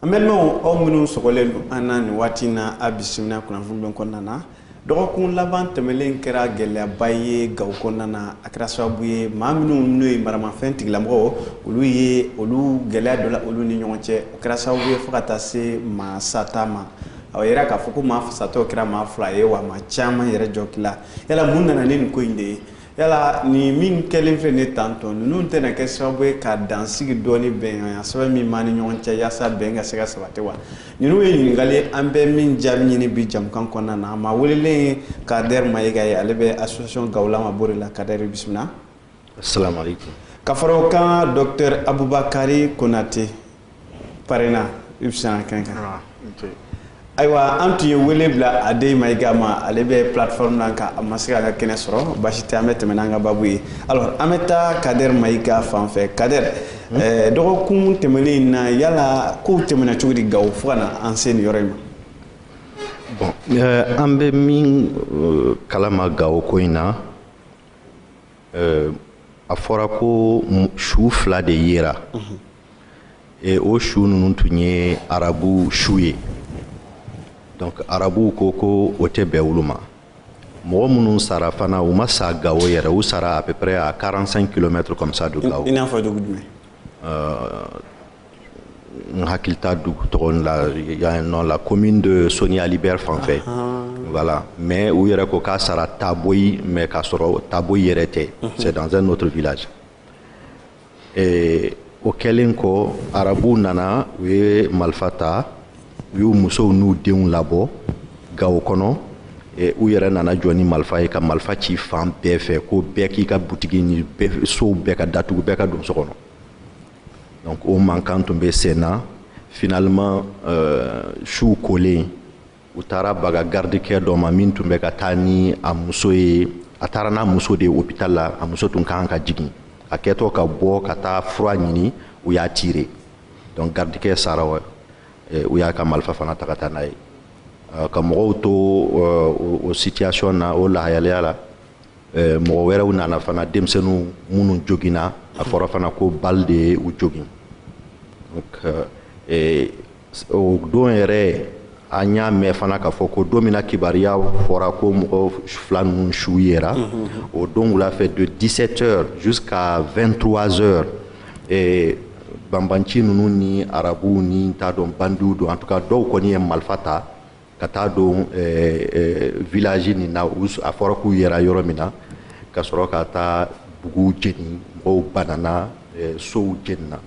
an balimaw aw minnu sɔgɔlen don an na nin waati na a bisimila kunnafoni bɛ kɔnɔna na dɔgɔkun laban tɛmɛlen kɛra gɛlɛyaba ye gawo kɔnɔna na a kɛra sababu ye maa minnu n'o ye maramafɛn tigilamɔgɔw olu ye olu gɛlɛya dɔ la olu ni ɲɔgɔn cɛ o kɛra sababu ye fo ka taa se maa sata ma a yɛrɛ k'a fɔ ko maa satɔ kɛra maa fila ye wa maa caman yɛrɛ jogila yala mun nana ni nin ko in de ye yala nin min kɛlen filɛ ne tan tɔ ninnu tɛna kɛ sababu ye ka dansigi dɔɔni bɛn sɛbɛn min b'an ni ɲɔgɔn cɛ yaasa bɛn ka se ka sabati wa ninnu ye ɲininkali ye an bɛ min jaabi ɲini bi jamukan kɔnɔna na maa welelen ye kader mayiga ye ale bɛ association gawo lama borey la kader bisimila assalamu alaikum ka fara o kan docteur abubakari konate parena i bisimila kɛnɛ kan ah, ayiwa an tun ye wele bila adei mayiga ma ale bɛ plateforme la nka a ma se ka an ka kɛnɛ sɔrɔ basi tɛ an bɛ tɛmɛ n'an ka babu ye alors an bɛ taa kader mayiga fan fɛ kader hmm? eh, dɔgɔkun tɛmɛnen in na yala kow tɛmɛna cogo di gawo fo ka na an se nin yɔrɔ in ma bon eh, an bɛ min eh, kalama gawo ko in na euh, a fɔra ko su fila de yera mhm. e o su ninnu tun ye arabu su ye donc arabuw ko ko o tɛ bɛn olu ma mɔgɔ minnu sara fana u ma sa gawo yɛrɛ u sara à peu près à 45 km comme ça de gawo i n'a fɔ dugu jumɛn euh, n hakili t'a dugu tɔgɔ la dans la commune de Soni Ali Ber fan fɛ voilà mais u yɛrɛ ko k'a sara Taboyi mais k'a sɔrɔ Taboyi yɛrɛ tɛ c'est dans un autre village o kɛlen kɔ arabuw nana u ye malifa ta u y'u musow n'u denw labɔ gawo kɔnɔ u yɛrɛ nana jɔ ni malifa ye ka malifa ci fan bɛɛ fɛ ko bɛɛ k'i ka butigi ni sow bɛɛ ka datugu bɛɛ ka don so kɔnɔ donc o mankan tun bɛ sen na finalement euh, su kolen u taara baga garidikɛ dɔ ma min tun bɛ ka taa ni a muso ye a taara n'a muso de ye hopital la a muso tun kan ka jigin a kɛtɔ ka bɔ ka taa fura ɲini u y'a tirer donc garidikɛ sara wa eh, u y'a ka malifa fana ta ka taa n'a ye euh, ka mɔgɔw to euh, o situation na o lahalaya la eh, mɔgɔ wɛrɛw nana fana denmisɛnninw minnu joginna a fɔra fana ko balle de ye u jogin donc o don yɛrɛ an y'a mɛn fana k'a fɔ ko don min na kibaruya fɔra ko mɔgɔ fila ninnu su yera o don wula fɛ de 17 heures jusqu'à 23 heures eh, banbanci ninnu ni arabuw n t'a dɔn bandiw don en tout cas dɔw kɔni ye malifa ta ka taa don village nin na a fɔra k'u yera yɔrɔ min na ka sɔrɔ ka taa buguw jeni mɔgɔw banana sow jenina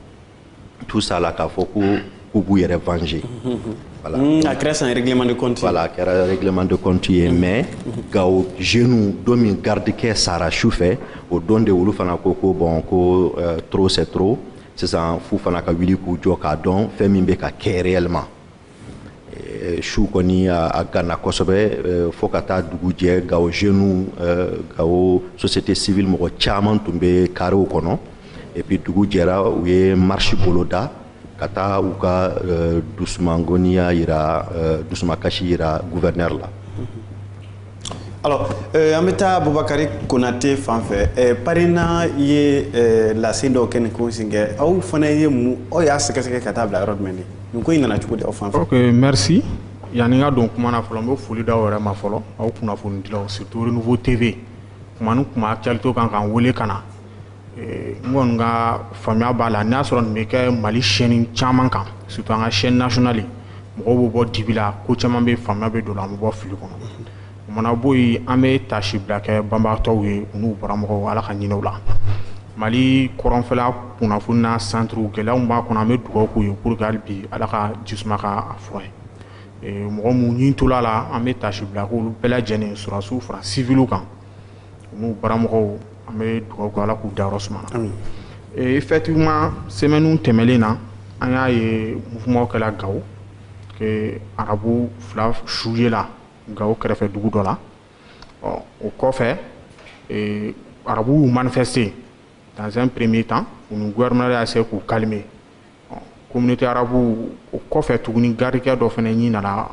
tout ça là k'a fɔ ko k'u b'u yɛrɛ venger voilà mm, a kɛra un règlement de compte voilà a kɛra règlement de compte ye mm-hmm. mais mm-hmm. gawo jeunes don min gardikɛ sara su fɛ o don de olu fana ko ko bon ko euh, trop c'est trop sisan f'u fana ka wuli k'u jɔ k'a dɔn fɛn min bɛ ka kɛ réellement Eh, su kɔni a ganna kosɛbɛ eh, fo ka taa dugu jɛ gawo jeunes eh, gawo société civile mɔgɔ caman tun bɛ karew kɔnɔ et puis dugu jɛra u ye marche boloda ka taa u ka dusumangoniya yira dusumakasi yira gouverneur la Alors, euh, an bɛ taa Bubakari Konate fan fɛ euh, PARENA ye euh, lase dɔw kɛ nin ko in senfɛ aw fana ye mun aw y'a sɛgɛsɛgɛ ka taa bila yɔrɔ jumɛn de nin ko in nana cogo di aw fan fɛ. ok merci yanni n ka don kuma na fɔlɔ n bɛ foli d'aw yɛrɛ ma fɔlɔ aw kunnafonidilaw surtout Renouveau TV kuma ni kuma actualité kan k'an wele ka na n kɔni ka faamuya b'a la n'a sɔrɔ nin bɛ kɛ mali chaîne caman kan surtout an ka chaîne nationale mɔgɔw bɛ bɔ dibi la ko caman bɛ faamuya bɛ don an bɛ bɔ fili kɔnɔ o mana bɔ yen an bɛ taasibila kɛ banbaatɔw ye n'u baramɔgɔw ala ka hinɛ u la mali kɔrɔnfɛla kunnafoni na centre gɛlɛya b'a kɔnɔ an bɛ dugawu k'u ye pour que hali bi ala ka jisuma k'a fura ye mɔgɔ minnu ɲin tola la an bɛ taasibila k'olu bɛɛ lajɛlen sɔrɔdasiw fara civil kan n'u baramɔgɔw an bɛ dugawu kɛ Ala k'u dayɔrɔ suma amin ee effectivement semaines tɛmɛlen na an y'a ye mouvement kɛla Gawo que arabu fila su yela Gawo kɛrɛfɛ dugu dɔ la ɔ o kɔfɛ ee arabuw y'u manifester dans un premier temps u ni gouvernement y'a essayer k'u calmer ɔ communauté arabuw o kɔfɛ tuguni gardikɛ dɔ fana ɲin nana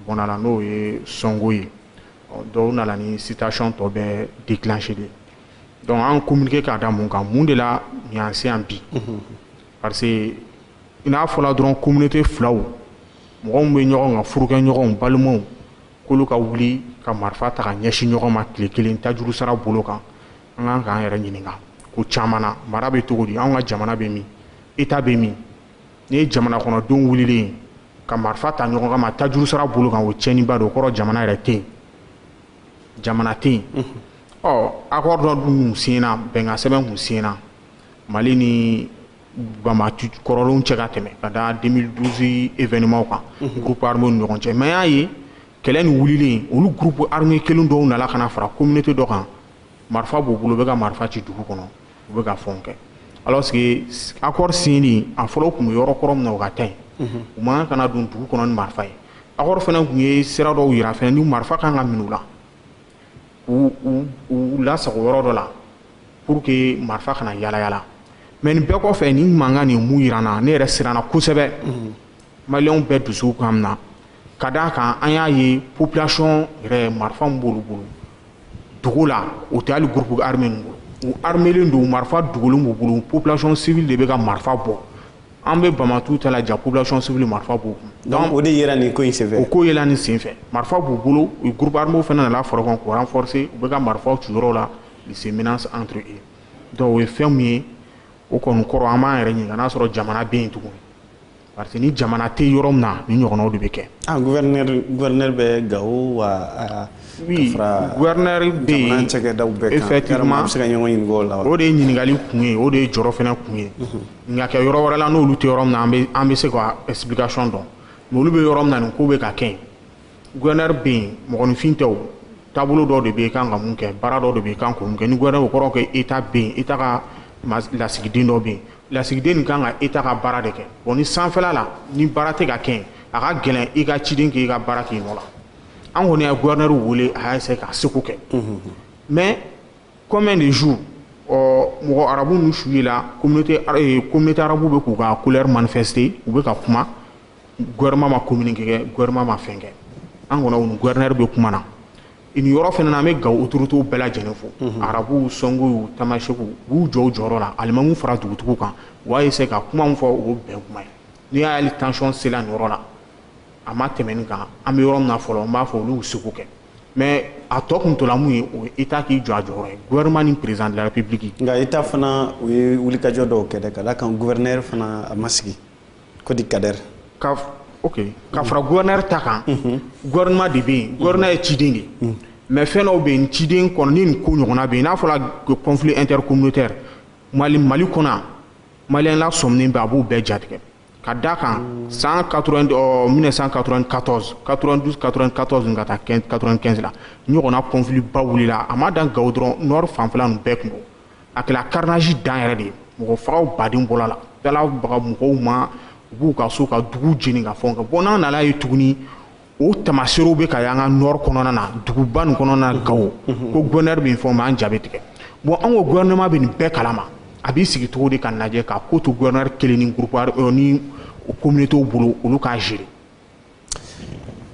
bɔnna la n'o ye Songhoy dɔ o nana ni situation tɔ bɛɛ déclenché de donc an communiqué k'a da mun kan mun de la y'an se yan bi parce que i n'a fɔla dɔrɔn communauté filaw mɔgɔ min bɛ ɲɔgɔn kan furukɛɲɔgɔnw balimaw k'olu ka wuli ka marifa ta k'a ɲɛsin ɲɔgɔn ma tile kelen tajuru sara bolo kan an kan k'an yɛrɛ ɲininka ko caman na mara bɛ cogo di an ka jamana bɛ min état bɛ min n'i ye jamana kɔnɔdenw wililen ye ka marifa ta ɲɔgɔn kama tajuru sara bolo kan o tiɲɛniba don o kɔrɔ jamana yɛrɛ tɛ yen jamana tɛ yen ɔ accord dɔ dun kun siɲɛna bɛnkan sɛbɛn kun siɲɛna mali ni banbaanci kɔrɔlenw cɛ ka tɛmɛ ka da 2012 événement kan groupe armé ni ɲɔgɔn cɛ mais y'a ye kɛlɛ nin wulilen olu groupe armé kelen dɔw nana ka na fara communauté dɔ kan marifa b'u bolo u bɛ ka marifa ci dugu kɔnɔ u bɛ ka fɛnw kɛ alors que accord signé a fɔlɔ tun bɛ yɔrɔ kɔrɔ min na u ka taa yen u man kan ka don dugu kɔnɔ ni marifa ye accord fana tun ye sira dɔw yira fana ni marifa kan ka minɛ u la u u u lasago yɔrɔ dɔ la pour que marifa kana yala yala mais nin bɛɛ kɔfɛ nin mankan nin mun yira an na ne yɛrɛ siranna kosɛbɛ maliyɛnw bɛɛ dusu kan na ka d'a kan an y'a ye population yɛrɛ marifa min b'olu bolo dugu la o tɛ hali groupe armé ninnu bolo u armelen don marifa dogolen b'u bolo population civile de bɛ ka marifa bɔ an bɛ bamatu ta la ja population civile marifa b'u kun donc o de yera nin ko in senfɛ o ko yela nin senfɛ marifa b'u bolo u groupe armé fana nana fara ɲɔgɔn kan k'u renforcer u bɛ ka marifaw ci yɔrɔ la les menaces entre eux donc o ye fɛn min ye o kɔni kɔrɔ an b'an yɛrɛ ɲininka n'a sɔrɔ jamana bɛ yen tuguni parce que ni jamana tɛ yɔrɔ min na nin ɲɔgɔnnaw de bɛ kɛ. ah gouverneur gouverneur bɛ Gawo wa. Ah, oui gouverneur bɛ yen jamana cakɛdaw bɛɛ kan effectivement an bɛ se ka ɲɔgɔn ɲininka o la wa. o de ye ɲininkali kun ye o de ye jɔrɔ fana kun ye. Mhm. nka kɛ yɔrɔ wɛrɛ la n'olu tɛ yɔrɔ min na an bɛ an bɛ se ka explication dɔn mais olu bɛ yɔrɔ min na nin ko bɛ ka kɛ yen gouverneur bɛ yen mɔgɔninfin tɛ o taabolo dɔ de bɛ yen i kan ka mun kɛ baara dɔ de bɛ yen i kan k'o mun kɛ ni gouverneur o kɔrɔ ko état bɛ yen état ka lasigiden dɔ bɛ yen. lasigiden nin kan ka état ka baara de kɛ bon ni sanfɛla la ni baara tɛ ka kɛ a ka gɛlɛn i ka ciden k'i ka baara k'i nɔ la an kɔni ye gouverneur wele a y'a essayer k'a seko kɛ mais combien de jours ɔ mɔgɔ arabu ninnu su ye la communauté eh, communauté arabu bɛ k'u ka colère manifester u bɛ ka kuma gouvernement ma communiqué kɛ gouvernement ma fɛn kɛ an kɔni u ni gouverneur bɛ kuma na nin yɔrɔ fana na an bɛ Gawo autorités bɛɛ lajɛlen fo mhm. arabuw sɔngoyiw tamasɛkiw u jɔ u jɔyɔrɔ la alimamuw fara dugutigiw kan u y'a essayer ka kuma min fɔ o bɛn kuma ye n'i y'a ye hali tension sela nin yɔrɔ la a ma tɛmɛ nin kan an bɛ yɔrɔ min na fɔlɔ n b'a fɔ olu y'u seko kɛ mais a tɔ kun tola mun ye o ye état k'i jɔ a jɔyɔrɔ ye gouvernement ni président de la république nka état fana u ye wulikajɔ dɔw kɛ dɛ ka d'a kan gouverneur fana a ma sigi ko di Kader ok ka fara gouverneur ta kan mhm. gouvernement de bɛ yen gouverneur ye ciden de mhm. mais fɛn dɔw bɛ yen ciden kɔnɔ ni nin ko ɲɔgɔnna bɛ yen n'a fɔra conflit intercommunautaire Mali Mali kɔnɔ maliyɛnw lasɔminen bɛ a b'u bɛɛ ja tigɛ ka d'a kan san 1994 92 94 ka taa 95 la nin ɲɔgɔnna conflit ba wulila a ma dan Gawo dɔrɔn nord fanfɛla ninnu bɛɛ kun a kɛra carnage dan yɛrɛ de ye mɔgɔ fagaw baden bɔra la taara baga mɔgɔw ma u b'u ka so ka dugu jeni ka fɛnw kɛ bon n'an nan'a ye tuguni o tamaserew bɛ ka ye an ka nord kɔnɔna na duguba nin kɔnɔna na Gawo ko gouverneur bɛ nin fɔ mais an ja bɛ tigɛ bon an ko gouvernement bɛ nin bɛɛ kalama a b'i sigi cogo di ka lajɛ ka ko to gouverneur kelen ni groupe ni communautéw bolo olu k'a gérer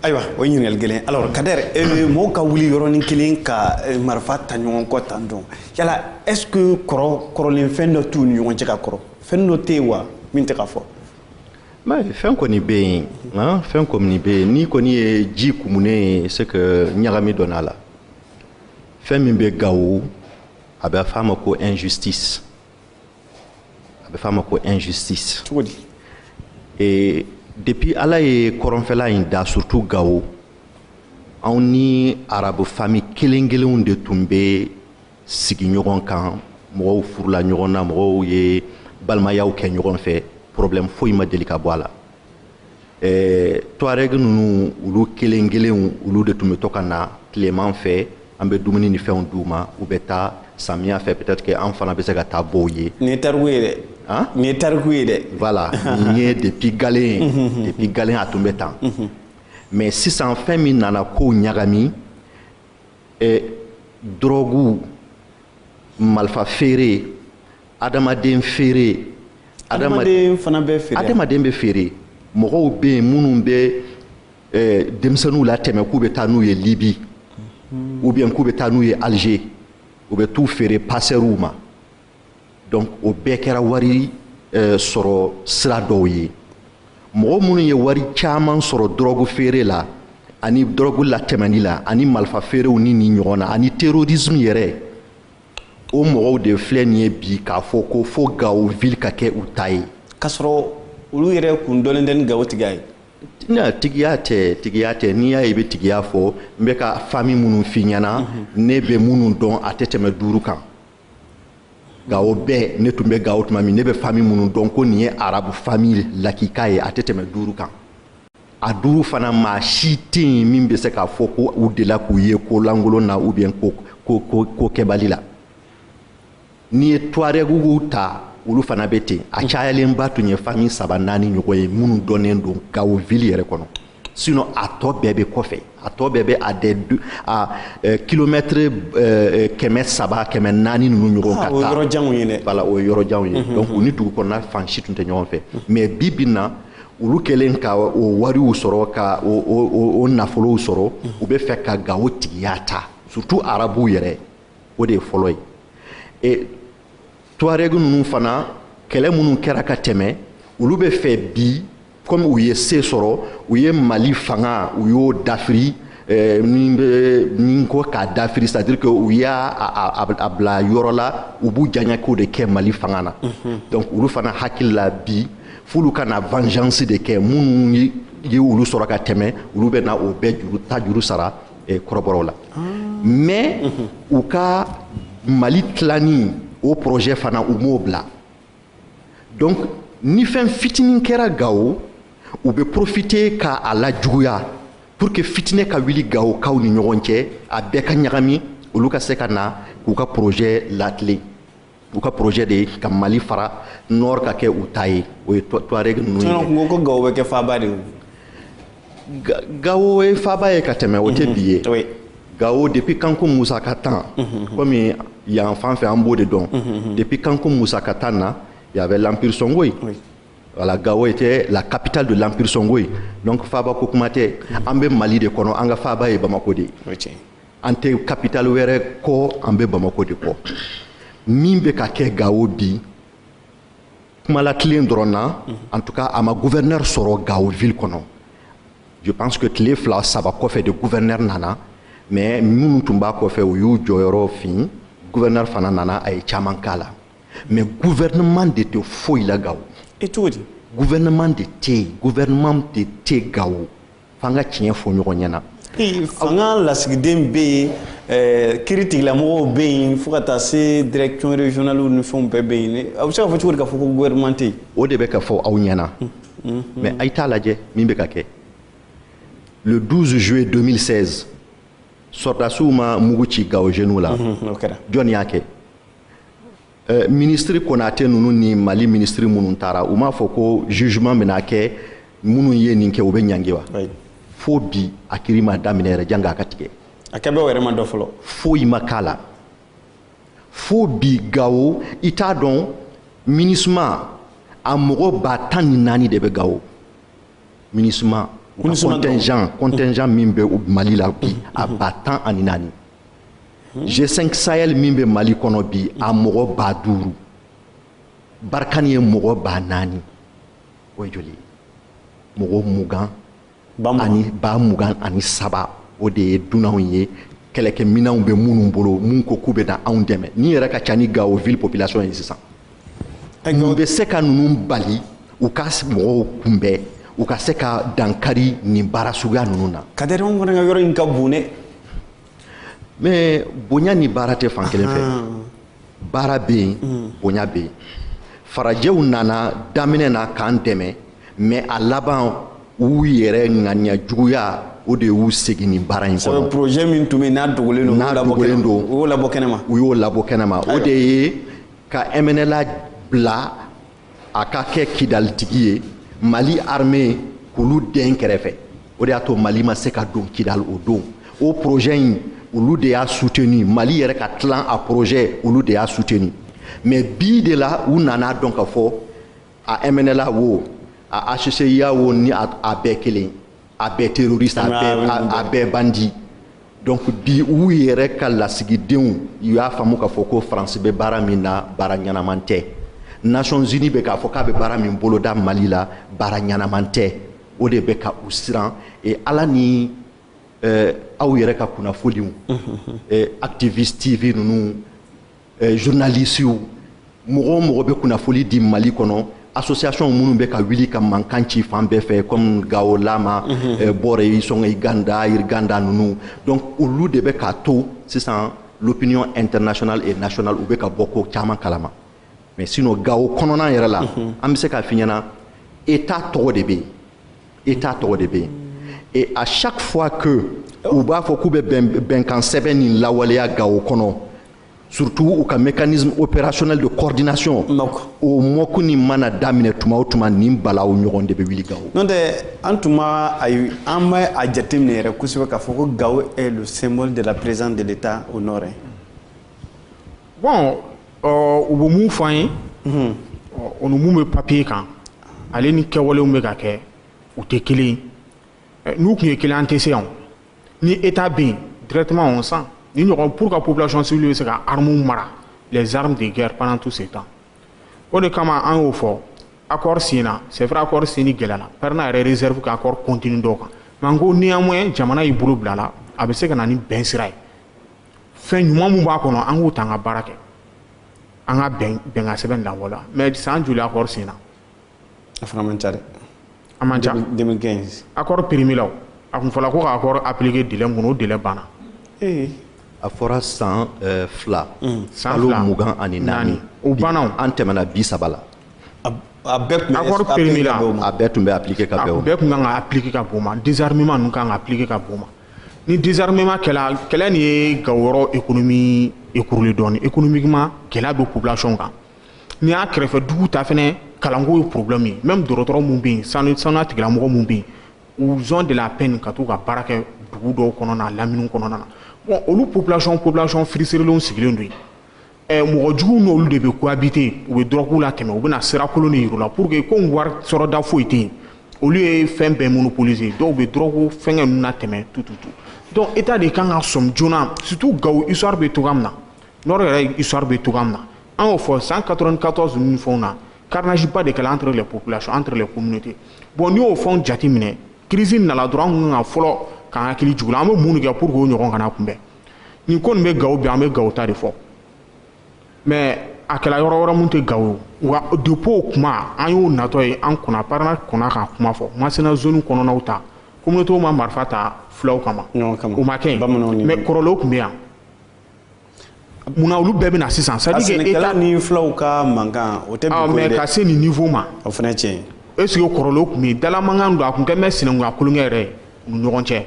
ayiwa o ye ɲininkali gɛlɛn alors kader eh, mɔgɔw ka wuli yɔrɔnin kelen ka eh, marifa ta ɲɔgɔn kɔ tan dɔn yala est ce que kɔrɔ kɔrɔlen fɛn dɔ t'u ni ɲɔgɔn cɛ ka kɔrɔ fɛn dɔ tɛ yen wa min tɛ ka fɔ fɛn kɔni bɛ yen nka fɛn kɔni bɛ yen n'i kɔni ye ji kumunen ye c'est que ɲagami donn'a la fɛn min bɛ gawo a bɛ f'a ma ko injustice a bɛ f'a ma ko injustice cogo di ee depuis ala ye kɔrɔnfɛla in da surtout gawo anw ni arabu fami kelen kelenw de tun bɛ sigi ɲɔgɔn kan mɔgɔw furula ɲɔgɔn na mɔgɔw ye balimayaw kɛ ɲɔgɔn fɛ problème foyi ma deli ka bɔ a la ɛɛ tuareg ninnu olu kelen kelenw olu de tun bɛ to ka na tileman fɛ an bɛ dumuni ni fɛnw d'u ma u bɛ taa samiya fɛ peut-être que an fana bɛ se ka taa bɔ u ye. nin ye tariku ye dɛ. han nin ye tariku ye dɛ. voilà nin ye depuis galen depuis galen a tun bɛ tan. mais sisan fɛn min nana kow ɲagami ɛ dɔrɔguw malifa feere adamaden feere adamaden fana bɛ feere adamaden bɛ feere mɔgɔw bɛ yen minnu bɛ eh, denmisɛnninw latɛmɛ k'u bɛ taa n'u ye libi hmm. ou bien k'u bɛ taa n'u ye alger u bɛ t'u feere pasɛriw ma donc o bɛɛ kɛra wari eh, sɔrɔ sira dɔw ye mɔgɔ minnu ye wari caman sɔrɔ dɔrɔgu feere la ani dɔrɔgu latɛmɛni la ani malifa feerew ni nin ɲɔgɔnna ani terrorisme yɛrɛ o mɔgɔw de filɛ nin ye bi k'a fɔ ko fo gawo ville ka kɛ u ta ye k'a sɔrɔ olu yɛrɛ kun dɔnnen tɛ ni gawo tigiya ye na tigiya tɛ tigiya tɛ n'i y'a ye i bɛ tigiya fɔ n bɛ ka fami minnu f'i ɲɛna mhm. ne bɛ minnu dɔn a tɛ tɛmɛ duuru kan gawo bɛɛ ne tun bɛ gawo tuma min ne bɛ fami minnu dɔn ko nin ye arabu fami lakika ye a tɛ tɛmɛ duuru kan a duuru fana maa si tɛ yen min bɛ se k'a fɔ ko u dela k'u ye ko lankolon na ou bien ko kɛbali la n'i ye tuarɛguw ta olu fana bɛ ten a cayalenba tun ye fami saba naani ɲɔgɔn ye minnu dɔnnen don gawo ville yɛrɛ kɔnɔ sinon a tɔ bɛɛ bɛ kɔfɛ a tɔ bɛɛ bɛ à des à eh, kilomɛtiri eh, kɛmɛ saba kɛmɛ naani ninnu ɲɔgɔn ka taa o ye yɔrɔ janw ye dɛ voilà o ye yɔrɔ janw ye donc u ni dugu kɔnɔna fan si tun tɛ ɲɔgɔn fɛ mais bi bi in na olu kɛlen ka o wariw sɔrɔ ka o nafolow sɔrɔ u bɛ fɛ ka gawo tigiya ta surtout arabuw yɛrɛ o de ye fɔlɔ ye e tuareg ninnu fana kɛlɛ minnu kɛra ka tɛmɛ olu bɛ fɛ bi komi u ye se sɔrɔ u ye mali fanga u y'o dafiri min bɛ min ko k'a dafiri c'est à dire que u y'a a bila yɔrɔ la u b'u diyanyeko de kɛ mali fanga na donc olu fana hakili la bi f'olu ka na vengeance de kɛ minnu ye olu sɔrɔ ka tɛmɛ olu bɛ na o bɛɛ juru ta juru sara eh, kɔrɔbɔrɔw la ah. mais u ka mali tilani o projet fana u m'o bila donc ni fɛn fitinin kɛra gawo u bɛ profiter ka a lajuguya pour que fitinɛ ka wuli gawo kaw ni ɲɔgɔn cɛ a bɛɛ ka ɲagami olu ka se ka na k'u ka projet latilen u ka projet de ye ka mali fara nord ka kɛ u ta ye o ye tuareg ninnu ye ko gawo bɛ kɛ faaba de gawo ye faaba ye ka tɛmɛ o tɛ mhm. bi ye gawo depuis kanku musa ka temps mhm. komi yan fan fɛ an b'o de dɔn mhm, depuis kanku musa ka temps na y avait l'empire songhoï voilà gawo était la capitale de l'empire songhoï donc faaba ko kuma tɛ an bɛ mali de kɔnɔ an ka faaba ye bamako de ye an tɛ kapitali wɛrɛ kɔ an bɛ bamako de kɔ min bɛ ka kɛ gawo bi kuma latilen dɔrɔn na en tout cas a ma gouverneur sɔrɔ gawo ville kɔnɔ je pense que tile fila saba kɔfɛ de gouverneur nana mais minnu tun b'a kɔfɛ u y'u jɔyɔrɔ fin gouverneur fana nana a ye caman k'a la mais gouvernement de tɛ foyi la gawo e cogo di gouvernement de tɛ yen gouvernement de tɛ gawo f'an ka tiɲɛ fɔ ɲɔgɔn ɲɛna fanga lasigiden bɛ yen eh, kiritigɛlamɔgɔw bɛ yen fo ka taa se direction régionale ni fɛnw bɛɛ bɛ yen aw bɛ se ka fɔ cogo di k'a fɔ ko gouvernement tɛ yen o de bɛ ka fɔ aw ɲɛna hmm, hmm, hmm. mais a ye t'a lajɛ min bɛ ka kɛ le 12 juillet 2016 sɔrɔdasiw ma mugu ci gawo jeunes la jɔn y'a kɛ eh, minisiri konate ninnu ni mali minisiri minnu taara u m'a fɔ ko jugement bɛna kɛ minnu ye nin kɛ u bɛ ɲangi wa fo bi a kiri ma daminɛ yɛrɛ janko a ka tigɛ a kɛbaaw yɛrɛ ma dɔn fɔlɔ foyi ma k'a la fo bi gawo i t'a dɔn MINUSMA a mɔgɔ ba tan ni naani de bɛ gawo MINUSMA contingent contingent min bɛ mali la bi a ba tan ani naani G5 Sahel min bɛ Mali kɔnɔ bi a mɔgɔ ba duuru Barkhane ye mɔgɔ ba naani o ye joli ye mɔgɔ mugan ani ba mugan ani saba o de ye dunanw ye kɛlɛkɛminɛnw bɛ minnu bolo mun ko k'u bɛ na anw dɛmɛ nin yɛrɛ ka ca ni Gao ville population ye sisan mun bɛ se ka ninnu bali u ka mɔgɔw kunbɛn u ka se ka dankari nin baara suguya ninnu na. Kadɛri anw fana ka yɔrɔ in ka bon dɛ. mais bonya ni baara tɛ fan kelen fɛ baara bɛ yen mm. bonya bɛ yen farajɛw nana daminɛ na k'an dɛmɛ mais a laban u yɛrɛ ŋaniya juguya o de y'u segin nin baara in kɔnɔ projet min tun bɛ yen n'a dogolen don n'a dogolen don u y'o labɔ kɛnɛma u y'o labɔ kɛnɛma o de ye ka MNLA bila a ka kɛ kidalitigi ye mali armée k'olu den kɛrɛfɛ o de y'a to mali ma se ka don kidali o don o projet in olu de y'a soutenu mali yɛrɛ ka tilan a projet olu de y'a soutenu mais bi de la u nan'a dɔn ka fɔ a mnla wo a hcua wo ni a bɛɛ kelen a bɛɛ terroriste a bɛɛ a bɛɛ bandit donc bi u yɛrɛ ka lasigidenw u y'a faamu k'a fɔ ko france bɛ baara min na baara ɲɛnaman tɛ nations unies bɛ k'a fɔ k'a bɛ baara min boloda mali la baara ɲɛnaman tɛ o de bɛ ka u siran et ala ni eh, aw yɛrɛ ka kunnafoniw eh, activiste tv ninnu eh, journalisiw mɔgɔ o mɔgɔ bɛ kunnafoli di mali kɔnɔ association minnu bɛ ka wuli ka mankan ci fan bɛɛ fɛ comme gawo lama mhm. eh, borey songhoy ganda irganda ninnu donc olu de bɛ k'a to sisan l'opinion internationale et nationale u bɛ ka bɔ ko caman kalama mais sinon gawo kɔnɔna yɛrɛ la mhm. an bɛ se k'a f'i ɲɛna état tɔgɔ de bɛ yen état tɔgɔ de bɛ yen et à chaque fois que u b'a fɔ k'u bɛ bɛnkan sɛbɛn nin lawaleya gawo kɔnɔ surtout u ka mécanisme opérationnel de coordination o moc nin mana daminɛ tuma o tuma nin balaw ɲɔgɔn de bɛ wuli gawo n'o tɛ an tun b'a ayi an bɛ a jateminɛ yɛrɛ kosɛbɛ k'a fɔ ko gawo est le symbole de la présence de l'état au nord bɔn u bɛ mun fɔ an ye o ni minnu bɛ papiye kan ale ni kɛwalew bɛ ka kɛ u tɛ kelen n'u tun ye kelen an tɛ se yan ni e t' bɛ yen dtema san ni ɲɔgɔn pur ka pbilatiɔnsi bɛ se ka hamu mara zsarimu de gɛrɛ pan tu se tan o de kama an y'o fɔ a kɔrɔɔri senina sɛra kɔɔri sen ni gɛlɛla pɛ n'a yɛrɛ zeridu k'a kɔrɔ cot dɔw kan nka ko ni ye jamana y'i bolo bila la a bɛ se ka na ni bɛn sira ye fɛn ɲuman mun b'a kɔnɔ an k'u ta an ka baara kɛ an ka bɛnkan sɛbɛn danbɔ la mais san joli accord signéna a fana man ca dɛ a man ca 2015 accord périméla a kun fɔla ko ka accord appliquer délai mun kɔnɔ o délai banna ee a fɔra san euh, fila hmm, kalo mugan ani naani o banna an tɛmɛna bi saba la a bɛɛ tun bɛ accord périméla a bɛɛ tun bɛ appliquer ka bɛn o ma a bɛɛ tun kan ka appliquer ka bɛn o ma désarmement ninnu kan ka appliquer ka bɛn o ma ni désarmement kɛla kɛlɛ nin ye gawo yɔrɔ économie écroulé dɔɔni économiquement gɛlɛya bɛ population kan n'i y'a kɛrɛfɛ dugu ta fɛnɛ kalanko ye problème ye même dɔgɔtɔrɔ mun bɛ yen sanu sanuya tigilamɔgɔ mun bɛ yen ils ont de la peine ka t'u ka baara kɛ dugu dɔw kɔnɔna na lamini kɔnɔna na bon olu population population frustrélenw sigilen don yen Eh, mɔgɔ juguw n'olu de bɛ cohabiter u bɛ drogue latɛmɛ u bɛna sira kolon de yir'u la pour que komi wari sɔrɔda foyi tɛ yen olu ye fɛn bɛɛ monopoliser dɔw bɛ drogue fɛngɛ ninnu na tɛmɛ tout tout tout donc état de kan ka sɔmi joona surtout gawo histoire bɛ cogoya min na nord yɛrɛ histoire bɛ cogoya min na an y'o fɔ san 94 ninnu fɛnw na carnage ba de kɛla entre les populations entre les communautés bon n'i y'o fɛnw jate minɛ crise nana dɔrɔn an tun kan ka fɔlɔ k'an hakili jigin o la an bɛ mun de kɛ pour que o ɲɔgɔn kana kunbɛn nin ko nin bɛ gawo bi an bɛ gawo ta de fɔ mais a kɛra yɔrɔ wɛrɛ min tɛ gawo wa depuis o kuma an y'o natɔ ye an kɔnna parena kɔnna ka kuma fɔ masina zone kɔnɔnaw ta communauté ma marifa ta fulaw kama o ma kɛ mais kɔrɔlenw tun bɛ yan mun na olu bɛɛ bɛ na sisan c'est à dire que état ni fulaw ka mankan o tɛ bi ko ye dɛ mais ka se nin niveau ma o fana tiɲɛ est ce que kɔrɔlenw tun bɛ yen dalamankan don a tun kɛ même sinankunya tulonkɛ yɛrɛ ye u ni ɲɔgɔn cɛ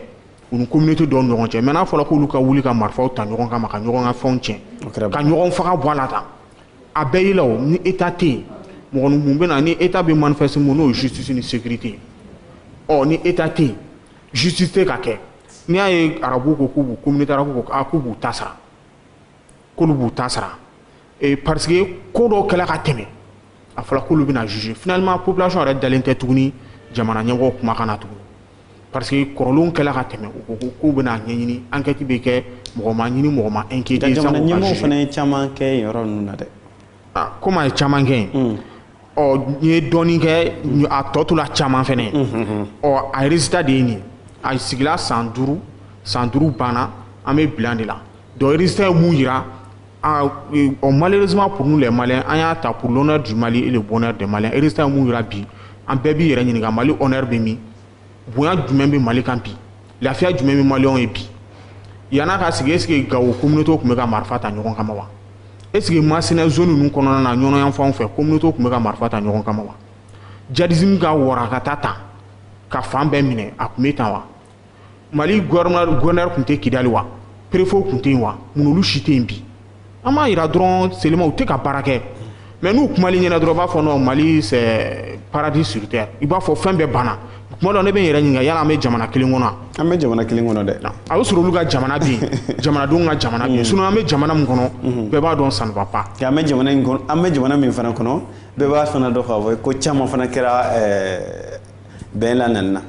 u ni communauté dɔw ɲɔgɔn cɛ mais n'a fɔra k'olu ka wuli ka marifaw ta ɲɔgɔn kama ka ɲɔgɔn ka fɛnw tiɲɛ ka ɲɔgɔn faga bɔ a la tan a bɛɛ y'i la o ni état tɛ yen mɔgɔ mun bɛ na ni état bɛ manifester mun n'o ye justice ni sécurité ye ɔ ni état tɛ yen justice tɛ ka kɛ n'i y'a ye arabuw ko k'u b'u communauté arabuw ko k'u b'u ta sara k'olu b'u ta sara ee parce que ko dɔw kɛla ka tɛmɛ a fɔra k'olu bɛna juger finalement population yɛrɛ dalen tɛ tuguni jamana ɲɛmɔgɔw kumakan na tuguni parce que kɔrɔlenw kɛla ka tɛmɛ u ko ko k'u bɛna ɲɛɲini enquête bɛ kɛ mɔgɔ ma ɲini mɔgɔ ma inquiéter jamana ɲɛmɔgɔw fana ye caman kɛ yen yɔrɔ ninnu na dɛ ah, komi a ye caman kɛ yen mm. ɔ n ye dɔɔnin kɛ a tɔ tora caman fana ye mm, mm, ɔ a résultat de ye nin ye a sigila san duuru san duuru banna an bɛ bilan de la donc résultat ye mun yira ɔ malheureusement pour nous les Maliens an y'a ta pour l'honneur du Mali et le bonheur des Maliens résultat ye mun yira bi an bɛɛ b'i yɛrɛ ɲininka Mali honneur bɛ min bonya jumɛn bɛ mali kan bi lafiya jumɛn bɛ maliyɛnw ye bi yann'a ka sigi est ce que gawo communauté tun bɛ ka marifa ta ɲɔgɔn kama wa est ce que masina zone ninnu kɔnɔna na ɲɔnɔ yanfanw fɛ communauté tun bɛ ka marifa ta ɲɔgɔn kama wa djihadisme ka warakata tan ka fan bɛɛ minɛ a tun bɛ tan wa mali gouverneur tun tɛ kidali wa préfet tun tɛ yen wa mun olu si tɛ yen bi an b'a yira dɔrɔn seulement u tɛ ka baara kɛ mais n'u kumal'i ɲɛna dɔrɔn i b'a fɔ non mali c'est paradis sur terre i b'a fɔ fɛn bɛɛ banna kuma dɔ ne bɛ n yɛrɛ ɲininka yala an bɛ jamana kelen kɔnɔ an bɛ jamana kelen kɔnɔ dɛ a bɛ sɔrɔ olu ka jamana bɛ yen jamanadenw ka jamana bɛ yen sinon an bɛ jamana min kɔnɔ mhm. bɛɛ b'a dɔn ça ne va pas an bɛ jamana in kɔnɔ an bɛ jamana min fana kɔnɔ bɛɛ b'a fana dɔn k'a fɔ ko caman fana kɛra bɛn la nani na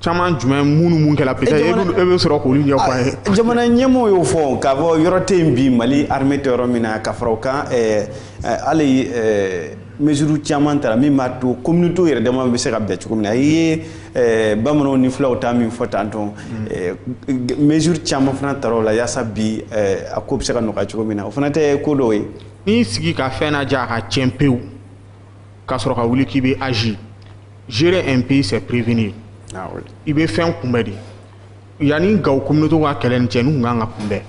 caman jumɛn minnu mun kɛla peut-être e bɛ e bɛ sɔrɔ k'olu ɲɛfɔ an ye. Ah, jamana ɲɛmɔgɔw y'o fɔ k'a fɔ yɔrɔ tɛ yen bi mali armée tɛ yɔrɔ min na ka fara o kan ɛɛ eh, eh, hali ɛɛ eh, mesure caman tara min b'a to communauté yɛrɛ dama bɛ se ka bɛn cogo min na i ye ɛɛ bamananw ni fulaw ta min fɔ tantôt ɛɛ mesure caman fana tara o la yaasa bi ɛɛ a ko bɛ se ka nɔgɔya cogo min na o fana tɛ ko dɔw ye. n'i sigi ka fɛn lajɛ a ka tiɲɛ pewu. ka sɔrɔ ka wuli k'i bɛ agir gérer un pays c'est prévenir ah i bɛ fɛn kunbɛn de yanni gawo communauté ka kɛlɛ nin cɛ n'u kan ka kunbɛn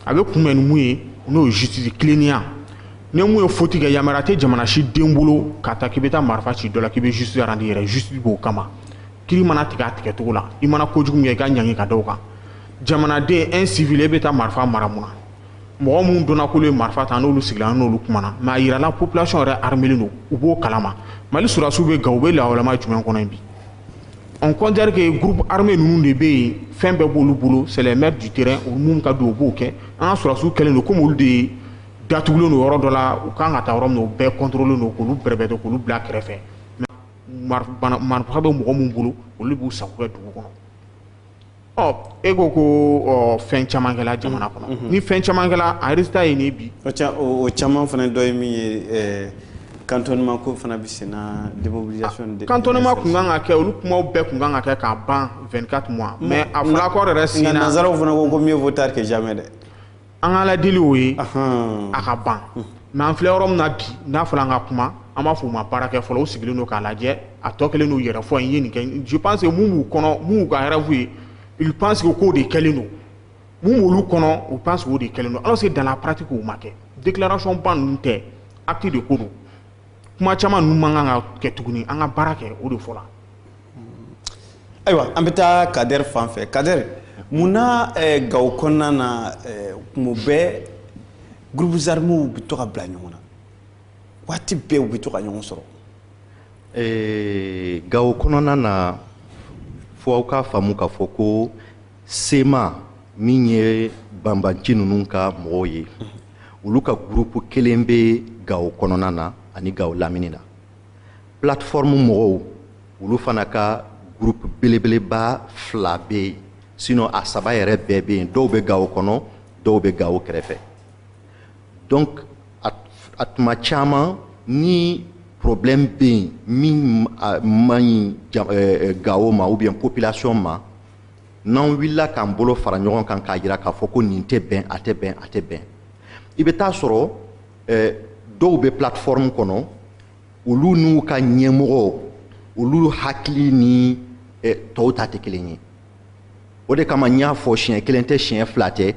a bɛ kunbɛn ni mun ye n'o ye justice tilennenya ni min ye faute kɛ yamaruya tɛ jamana si den bolo ka taa k'i bɛ taa marifa ci dɔ la k'i bɛ justice rendre i yɛrɛ justice b'o kama kiri mana tigɛ a tigɛcogo la i mana kojugu min kɛ i ka ɲangi ka da o kan jamanaden un civil e bɛ taa marifa mara mun na mɔgɔ minnu dɔnna k'olu ye marifa ta n'olu sigira n'olu kumana mais a yirala population yɛrɛ armelen don u b'o kalama mali sɔrɔdasiw bɛ gawo u bɛ lahalaya jumɛn kɔnɔ bi on considère que groupe armé ninnu de bɛ yen fɛn bɛɛ b'olu bolo c'est les maîtres du terrain u mun ka don u b'o kɛ an ka sɔrɔdasiw kɛlen don komi olu de datugulen don yɔrɔ dɔ la u kan ka taa yɔrɔ min na u bɛɛ contrôler don k'olu bɛrɛbɛrɛ k'olu bila kɛrɛfɛ marifa bɛ mɔgɔ minnu bolo olu b'u sago kɛ dugu kɔnɔ ɔ e ko ko ɔ fɛn caman kɛla jamana kɔnɔ mm-hmm. Mm-hmm. ni fɛn caman kɛla a résultat ye nin bi o caman fana dɔ ye min ye eh, cantonnement ko fana bɛ sen na démobilisation ah, de cantonnement tun kan ka kɛ olu kumaw bɛɛ tun kan ka kɛ k'a ban 24 mois mais a fɔra accord yɛrɛ signé na nanzaraw fana ko ko mieux vaut tard que jamais dɛ an ka ladili o ye a ka ban mais an filɛ yɔrɔ min na bi n'a fɔra an ka kuma an b'a fɔ u ma baara kɛ fɔlɔ u sigilen don k'a lajɛ a tɔ kɛlen don yɛrɛfɔ ye n ye nin kɛ je pense que mun b'u kɔnɔ mun y'u ka rêve ye ils pensent que k'o de kɛlen don mun b'olu kɔnɔ u pense o de kɛlen don alors que dans la pratique o ma kɛ déclaration ba ninnu tɛ acte de ko don kuma caman ninnu man kan ka kɛ tuguni an ka baara kɛ o de fɔra ayiwa an bɛ taa Kader fan fɛ Kader mun na eh, gawo kɔnɔna na eh, kuma bɛɛ groupes armés bɛ to ka bila ɲɔgɔn na waati bɛɛ u bɛ to ka ɲɔgɔn sɔrɔ eh, gawo kɔnɔna na fo aw k'a faamu k'a fɔ ko CMA min ye banbanci ninnu ka mɔgɔw ye olu ka groupe kelen bɛ gawo kɔnɔna na ani gawo lamini na plateforme mɔgɔw olu fana ka groupe belebeleba fila bɛ yen sinon a saba yɛrɛ bɛɛ bɛ yen dɔw bɛ gawo kɔnɔ dɔw bɛ gawo kɛrɛfɛ donc a tuma caman ni problème bɛ yen min man ɲi gawo ma ou bien population ma n'an wulila k'an bolo fara ɲɔgɔn kan k'a jira k'a fɔ ko nin tɛ bɛn a tɛ bɛn a tɛ bɛn i bɛ t'a sɔrɔ eh, dɔw bɛ plateforme kɔnɔ olu n'u ka ɲɛmɔgɔ olu hakili ni eh, tɔw ta tɛ kelen ye o de kama n y'a fɔ siɲɛ kelen tɛ siɲɛ fila tɛ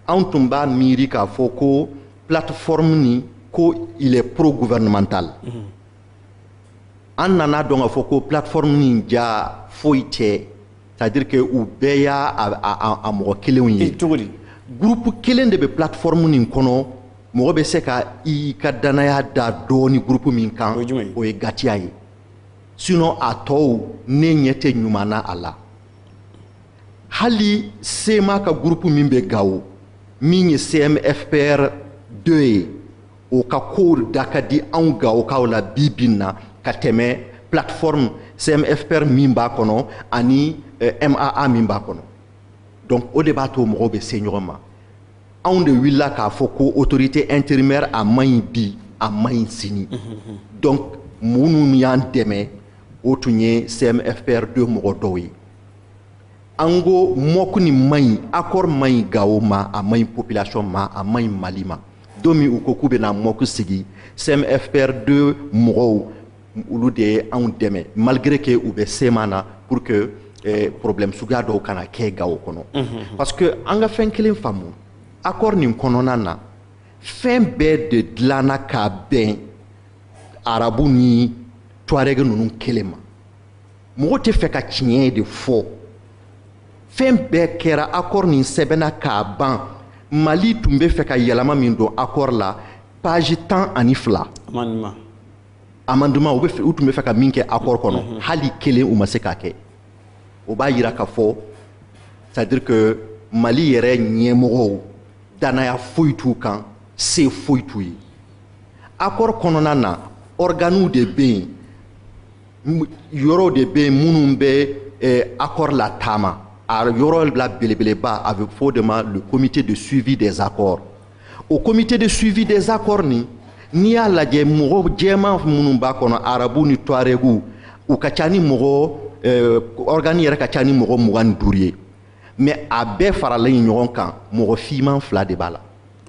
anw tun b'a miiri k'a fɔ ko plateforme nin ko il est pro gouvernemental mm -hmm. an nana a dɔn k'a fɔ ko plateforme nin ja foyi tɛ c'est-à-dire que u bɛɛ y'a a mɔgɔ kelenw ye cogo di gurupu kelen de bɛ plateforme nin kɔnɔ mɔgɔ bɛ se ka i ka dannaya da dɔɔni gurupu min kan o ye gatia ye sinon a tɔw ne ɲɛ tɛ ɲuman na a la hali cma ka gurupu min bɛ gawo min ye cmfpr 2 ye o ka kow da ka di anw gawokaw la bi bi in na ka tɛmɛ plateforme cmfpr min b'a kɔnɔ ani eh, maa min b'a kɔnɔ donc o de b'a to mɔgɔw bɛ se ɲɔgɔn ma anw de wulila k'a fɔ ko autorité intérimaire a man ɲi bi a man ɲi sini donc minnu y'an dɛmɛ o tun ye cmfpr 2 mɔgɔ dɔw ye an ko moc nin man ɲi accord man ɲi gawo ma a man ɲi population ma a man ɲi mali ma don min u ko k'u bɛna moc sigi cmfpr 2 mɔgɔw olu de ye anw dɛmɛ malgré que u bɛ cma na pour que eh, problème suguya dɔw kana kɛ gawo kɔnɔ mhm. parce que an ka fɛn kelen faamu accord nin kɔnɔna na fɛn bɛɛ de dilanna ka bɛn arabu ni tuareg ninnu kelen ma mɔgɔ tɛ fɛ ka tiɲɛ de fɔ fɛn bɛɛ kɛra accord nin sɛbɛnna k'a ban mali tun bɛ fɛ ka yɛlɛma min don accord la page tan ani fila amendement u tun bɛ fɛ ka min kɛ accord kɔnɔ mhm. hali kelen u ma se k'a kɛ o b'a yira k'a fɔ c'est-à-dire que mali yɛrɛ ɲɛmɔgɔw danaya foyi t'u kan se foyi t'u ye accord kɔnɔna na organew de bɛ yen yɔrɔw de bɛ yen minnu bɛ eh, accord lataama a yɔrɔ la belebeleba a bɛ fɔ o de ma le comité de suivi des accords o comité de suivi des accords nin n'i y'a lajɛ mɔgɔ jɛman minnu b'a kɔnɔ arabu ni tuaregu u ka ca ni mɔgɔ eh, organe yɛrɛ ka ca ni mɔgɔ mugan ni duuru ye mais a bɛɛ faralen ɲɔgɔn kan mɔgɔ fiman fila de b'a la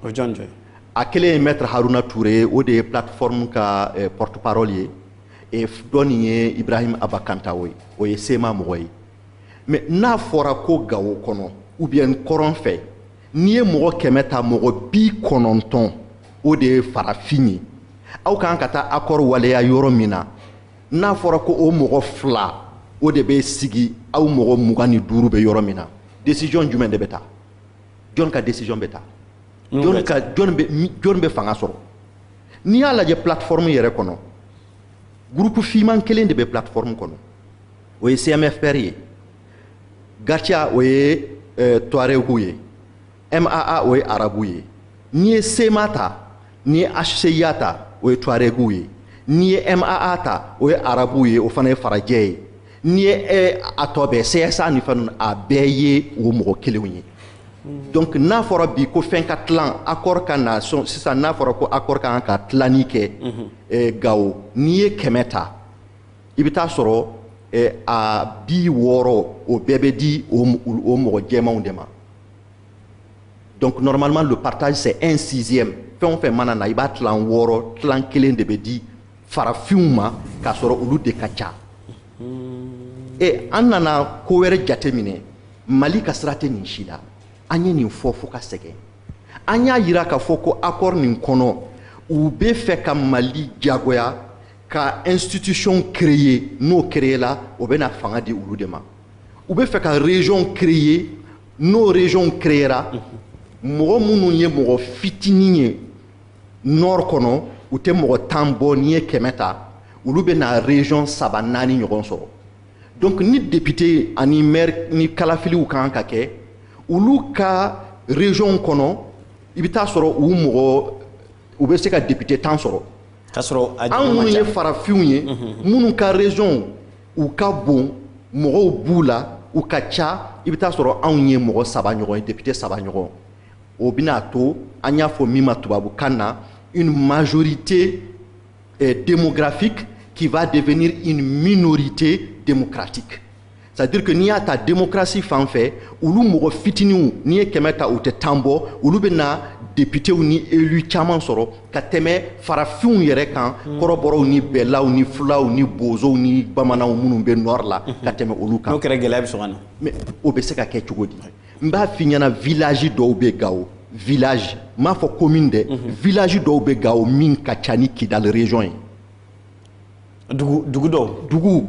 o jɔn jɔn a kelen ye maître haruna ture ye o de ye plateforme ka eh, porte parole ye e dɔ nin ye ibrahim aba kantawo ye o ye cma mɔgɔ ye mais n'a fɔra ko gawo kɔnɔ ou bien kɔrɔn fɛ n'i ye mɔgɔ kɛmɛ ta mɔgɔ bi kɔnɔntɔn o de ye farafin ye aw kan ka taa accord waleya yɔrɔ min na n'a fɔra ko o mɔgɔ fila o de bɛ sigi aw mɔgɔ mugan ni duuru bɛ yɔrɔ min na décision jumɛn de bɛ taa jɔn ka décision bɛ taa jɔn bɛ fanga sɔrɔ n'i y'a lajɛ plateforme yɛrɛ kɔnɔ groupe fiman kelen de bɛ plateforme kɔnɔ o ye cmfpr ye gatia o ye eh, tuareguw ye maa o ye arabu ye n'i ye cma ta n'i ye hcua ta o ye tuareguw ye n'i ye maa ta o ye arabuw ye o fana ye farajɛ ye n'i ye e a tɔ bɛɛ CSA ni fɛn ninnu a bɛɛ ye o mɔgɔ kelenw ye donc n'a fɔra bi ko fɛn ka tilan accord ka na sisan n'a fɔra ko accord ka kan ka tilanni kɛ eh, Gawo n'i ye kɛmɛ ta i bɛ t'a sɔrɔ eh, a bi wɔɔrɔ o bɛɛ bɛ di o o mɔgɔ jɛmanw de ma donc normalement le partage c'est un sixième fɛn o fɛn mana na i b'a tilan wɔɔrɔ tilan kelen de bɛ di farafinw ma k'a sɔrɔ olu de ka ca e an nana ko wɛrɛ jateminɛ mali ka sira tɛ nin si la an ye nin fɔ fo ka sɛgɛn an y'a yira k'a fɔ ko accord nin kɔnɔ u bɛ fɛ ka mali jagoya ka institution créer n'o créer la o bɛna fanga di olu de ma u bɛ fɛ ka région créer n'o région créera mɔgɔ minnu ye mɔgɔ fitinin ye nord kɔnɔ u tɛ mɔgɔ tan bɔ n'i ye kɛmɛ ta olu bɛ na région saba naani ɲɔgɔn sɔrɔ donc ni député ani maire ni kalafiliw kan ka kɛ olu ka région kɔnɔ i bɛ t'a sɔrɔ u mɔgɔ u bɛ se ka député tan sɔrɔ k'a sɔrɔ anw minnu ye farafinw ye minnu ka région u ka bon mɔgɔw b'u la u ka ca i bɛ t'a sɔrɔ anw ye mɔgɔ saba ɲɔgɔn ye député saba ɲɔgɔn o bɛna to an y'a fɔ min ma tubabukan na une majorité eh, démographique qui va devenir une minorité démocratique c'est à dire que n'i y'a ta démocratie fan fɛ olu mɔgɔ fitininw n'i ye kɛmɛ ta u tɛ tan bɔ olu bɛ na députéw ni élus caman sɔrɔ ka tɛmɛ farafinw yɛrɛ kan kɔrɔbɔrɔw ni bɛlaw ni fulaw ni bozow ni bamananw minnu bɛ nord la ka tɛmɛ olu kan n'o kɛra gɛlɛya bɛ sɔn ka na mais o bɛ se ka kɛ cogo di n b'a f'i ɲɛna village dɔw bɛ gawo village n m'a fɔ commune dɛ mhm. village dɔw bɛ gawo min ka ca ni kidali région ye dugu dugu dɔw dugu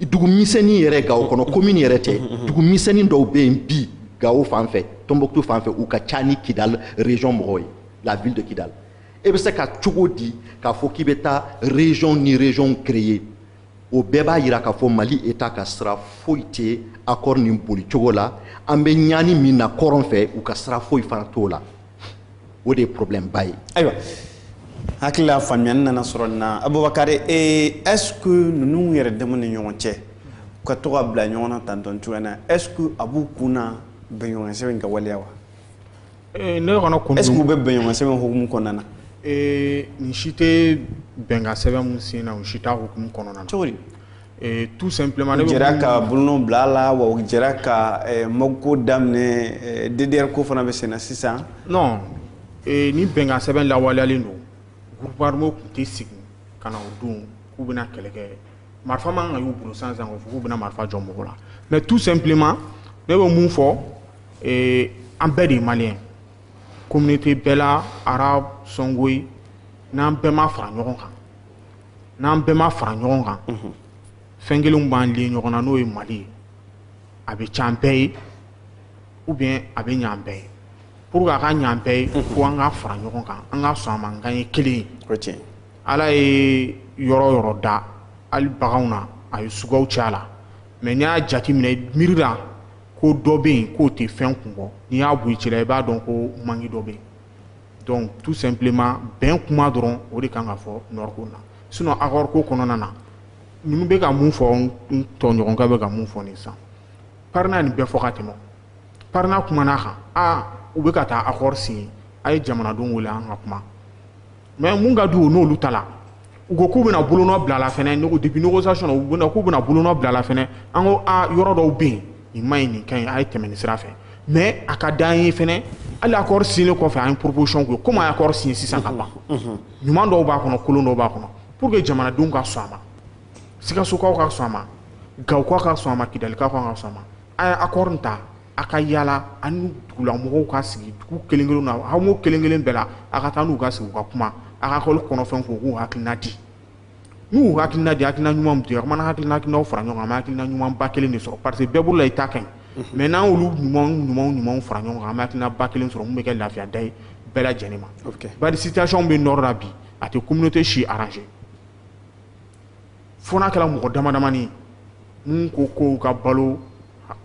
dugu misɛnnin yɛrɛ gawo kɔnɔ commune yɛrɛ tɛ mhm, mhm, dugu misɛnnin dɔw bɛ yen bi gawo fan fɛ tombouctou fan fɛ u ka ca ni kidali région mɔgɔw ye la ville de kidali e bɛ se ka cogo di k'a fɔ k'i bɛ taa région ni région créer o bɛɛ b'a yira k'a fɔ mali eta ka sira foyi tɛ akɔri nin bolicogo la an bɛ ɲani min na kɔrɔn fɛ u ka sira foyi fana t'o la o de ye porobilɛmba ye ayiwa hakili la faamuyani nana sɔrɔ nin na abubakari ee est ce que ninnu yɛrɛ dama ni ɲɔgɔn cɛ u ka to ka bila ɲɔgɔn na tantɔn cogoya na est ce que a b'u kun na bɛnɲɔgɔnsɛbɛn in ka waleya wa Eh, ne kɔnɔ kun est-ce que u bɛ bɛnɲɔgɔn sɛbɛn hukumu kɔnɔna na eh, nin si tɛ bɛnkan sɛbɛn min sen na u si t'a hukumu kɔnɔna na cogo di eh, tout simplement u bɛɛ jɛra ka bolonɔn bila a la wa u jɛra ka MOC ko daminɛ DDR ko fana bɛ sen na sisan non ni bɛnkan sɛbɛn lawaleyalen don groupe armé tun tɛ sigi ka na o don k'u bɛna kɛlɛ kɛ marifa man kan ka y'u bolo sisan sisan k'u bɛna marifa jɔ mɔgɔ la mais tout simplement ne bɛ mun fɔ ee an bɛɛ de ye maliyɛn communauté bɛɛ la arabe sɔngoyi n'an bɛɛ ma fara ɲɔgɔn kan n'an bɛɛ ma fara ɲɔgɔn kan fɛn kelenw b'an lier ɲɔgɔn na n'o ye mali ye a bɛ c'an bɛɛ ye ou bien a bɛ ɲ'an bɛɛ ye pour que a ka ɲ'an bɛɛ ye fo an ka fara ɲɔgɔn kan an ka sɔn a ma k'an ye kelen ye o tiɲɛ ala ye yɔrɔ yɔrɔ da hali baganw na a ye suguyaw cɛ a la mais n'i y'a jateminɛ miiri la ko dɔ bɛ yen k'o tɛ fɛn kun bɔ n'i y'a bɔ i cɛla i b'a dɔn ko manque dɔ bɛ yen donc tout simplement bɛn kuma dɔrɔn o de kan ka fɔ nord ko na sinon accord ko kɔnɔna na ninnu bɛ ka mun fɔ n tɔɲɔgɔnkɛ bɛ ka mun fɔ nin sisan parena nin bɛɛ fɔ ka tɛmɛ parena kumana a kan a u bɛ ka taa accord signer a ye jamanadenw wele an ka kuma mais mun ka d'u n'olu ta la u ko k'u bɛna bolonɔ bila la fɛnɛ ne ko depuis négociation na u bɛna k'u bɛna bolonɔ bila la fɛnɛ an ko a yɔrɔ dɔw bɛ yen nin man ɲi nin ka ɲi a ye tɛmɛ nin sira fɛ mais a ka d'an ye fɛnɛ hali accord signé kɔfɛ an ye proposition k'u ye komi a ye accord signé sisan ka ban ɲuman dɔw b'a kɔnɔ kolon dɔw b'a kɔnɔ pour que jamanadenw ka sɔn a ma sikasokaw ka sɔn a ma gawokaw ka sɔn a ma kidalikaw ka sɔn a ma a ye accord ta a ka yaala a ni dugulamɔgɔw ka sigi dugu kelen-kelen na hameau kelen-kelen bɛɛ la a ka taa n'u ka sigi u ka kuma accord kɔnɔfɛn ko k'u hakilina di n'u y'u hakilina di hakilina ɲuman min di a mana hakilinaw fara ɲɔgɔn kan an bɛ hakilina ɲuman ba kelen de sɔrɔ parce que bɛɛ bolo la i ta ka ɲi mais n'an y'olu ɲuman ɲuman ɲuman fara ɲɔgɔn kan an bɛ hakilina ba kelen sɔrɔ min bɛ kɛ lafiya da ye bɛɛ lajɛlen ma bari situation bɛ nord la bi a tɛ communauté si arranger fo n'a kɛra mɔgɔ damadamani min ko k'u ka balo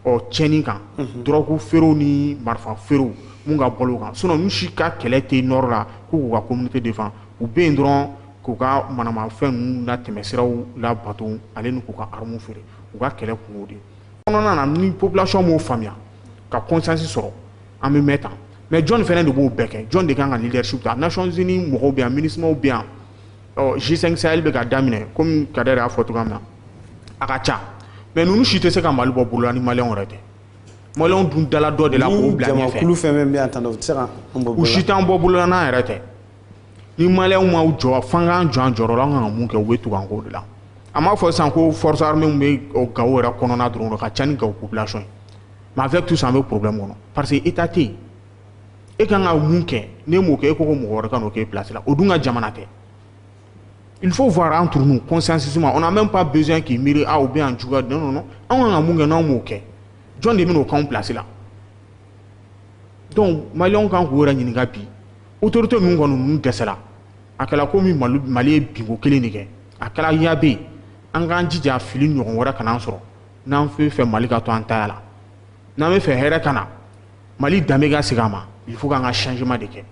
ɔ tiɲɛni kan dɔrɔku feerew ni marifa feerew min ka balo kan sinon u si ka kɛlɛ tɛ nord la ko k'u ka communauté défendre u bɛ yen dɔrɔn k'u ka manamafɛn ninnu na tɛmɛsiraw labato ale ni k'u ka armes feere u ka kɛlɛ kun y'o de kɔnɔna na ni population m'o faamuya ka consensus sɔrɔ an bɛ mɛn tan mais jɔn fana de b'o bɛɛ kɛ jɔn de kan ka leadership ta Nations Unies mɔgɔw bɛ yan MINUSMA bɛ yan ɔ G5 Sahel bɛ ka daminɛ komi Kader y'a fɔ cogoya min na a ka ca mais ninnu si tɛ se ka Mali bɔ bolola ni maliyɛnw yɛrɛ tɛ maliyɛnw dun dala dɔ de la k'o bila ɲɛfɛ jamakulu fɛn fɛn bɛ yan tan u tɛ se ka an bɔ bolola u si t'an bɔ bolola n'an yɛrɛ tɛ ni maliyɛnw ma jɔ f'an k'an jɔ an jɔyɔrɔ la an ka kan ka mun kɛ u bɛ tugu an kɔ de la an b'a fɔ sisan ko force armée min bɛ Gawo yɛrɛ kɔnɔna dɔrɔn o ka ca ni Gawo population ye mais avec tout ça an bɛ problème kɔnɔ parce que État tɛ yen e ka kan ka mun kɛ n'e m'o kɛ e ko ko mɔgɔ wɛrɛ ka n'o k'e place la o dun ka jamana tɛ il faut voir entre nous consensus on n'a même pas besoin k'i miiri ah ou bien an juguya non non non an ka kan ka mun kɛ n'anw m'o kɛ jɔn de bɛn'o k'anw place la donc maliyɛnw kan k'u yɛrɛ ɲininka bi autorité ninnu kɔni ninnu dɛsɛra a kɛra komi Mali Mali ye binko kelen de kɛ a kɛra ya bɛ yen an k'an jija fili ɲɔgɔn wɛrɛ kana an sɔrɔ n'an bɛ fɛ Mali ka to an taya la n'an bɛ fɛ hɛrɛ ka na Mali danbe ka segin a ma il faut k'an ka changement de kɛ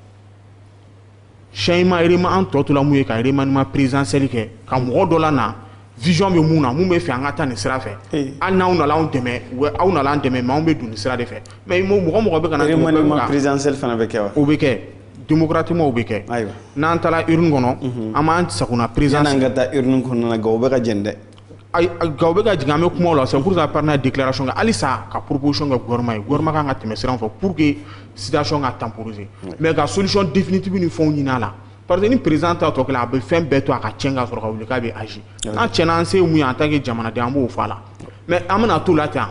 changement vraiment an tɔ tola mun ye ka remaniement présidentiel kɛ ka mɔgɔ dɔ la na vision bɛ mun na mun bɛ fɛ an ka taa nin sira fɛ eh. hali n'aw nana anw dɛmɛ u bɛ aw nana an dɛmɛ mais anw bɛ don nin sira de fɛ mais mɔgɔ mɔgɔ bɛ ka na remaniement présidentiel fana bɛ kɛ wa o bɛ kɛ démocratiquement o bɛ kɛ ayiwa n'an taara urne kɔnɔ mhm. an b'an sagona présidence yan'an ka taa urne kɔnɔna na Gawo bɛ ka jɛni dɛ nka bɛ ka jigin an bɛ kuma la san kurusa pan n'a dilara sɔn halisa ka poroosɔn ka gma ye gma kan ka tɛmɛ siran fɔ pur que sidati ka tanpuruzse mɛ ka solisɔn difitibi ni fɛnw ɲinin a la pa ni perez ta tɔ a bɛ fɛn bɛɛ to a ka cɛ ka sɔrɔ ka wuli k'a bɛ ayi n'a cɛ an se mun ye an ta kɛ jamanaden an b'o faa la mɛ an bɛna to la ten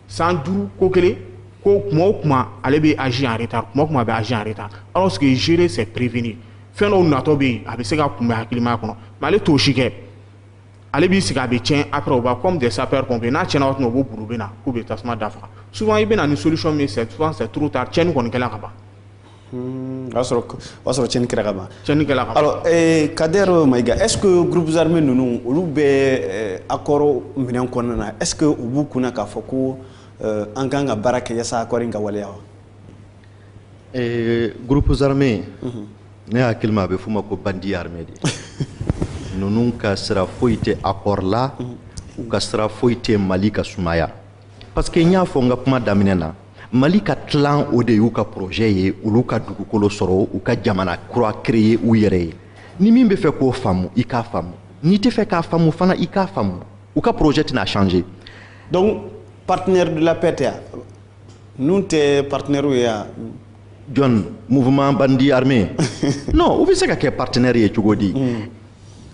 san duuru ko kelen ko tuma o tuma ale bɛ az are ta tuma tuma a bɛ az are ta aw sigi ziere sɛ perepfi fɛn dɔw natɔ bɛ yen a bɛ se ka kun bɛ hakilikilimaya kɔnɔ mɛ ale t'o si kɛ ale b'i sigi a bɛ tiɲɛ après o b'a comme des sapeurs pompiers n'a tiɲɛna waati min na u b'u boli u bɛ na k'u bɛ tasuma da faga souvent i bɛ na ni solution min ye c'est souvent c'est trop tard tiɲɛni kɔni kɛla ka ban. Hmm, o y'a sɔrɔ o y'a sɔrɔ tiɲɛni kɛra ka ban. tiɲɛni kɛla ka ban. alors eh, Kader Mayiga est ce que groupes armés ninnu olu bɛ eh, accord minɛn kɔnɔna na est ce que u b'u kunna k'a fɔ ko eh, an kan ka baara kɛ yaasa accord in ka waleya wa. Ee groupes armés ne hakili la a bɛ f'u ma ko bandits armés de ninnu ka sira foyi tɛ accord la u ka sira foyi tɛ mali ka sumaya parce que n y'a fɔ n ka kuma daminɛ na mali ka tila o de y'u ka projet ye olu ka dugukolo sɔrɔ u ka jamana kura créer u yɛrɛ ye ni min bɛ fɛ k'o faamu i k'a faamu n'i tɛ fɛ k'a faamu fana i k'a faamu u ka projet tɛna changer donc partenaire de la paix tɛ Ninnu tɛ partenaire ye yan jɔn, mouvement bandit armé. non, u bɛ se ka kɛ partenaire ye cogo di.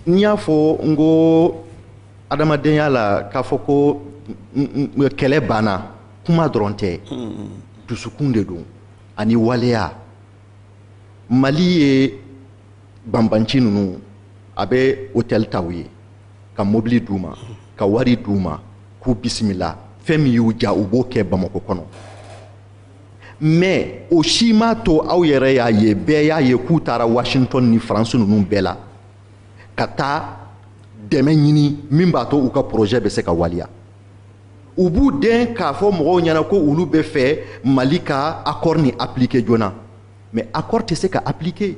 N y'a fɔ n ko adamadenya la k'a fɔ ko kɛlɛ banna kuma dɔrɔn tɛ dusukun de don ani waleya mali ye banbanci ninnu a bɛ hôtel ta u ye ka mobili d'u ma ka wari d'u ma k'u bisimila fɛn min y'u diya u b'o kɛ bamako kɔnɔ mɛ o si m'a to aw yɛrɛ y'a ye bɛɛ y'a ye k'u taara washington ni faransi ninnu bɛɛ la ka taa dɛmɛ ɲini min b'a to u ka porozɛ bɛ se ka waleya u b'u den k'a fɔ mɔgɔw ɲɛna ko olu bɛ fɛ mali ka akɔri nin apilike joona mɛ akɔri tɛ se ka apilike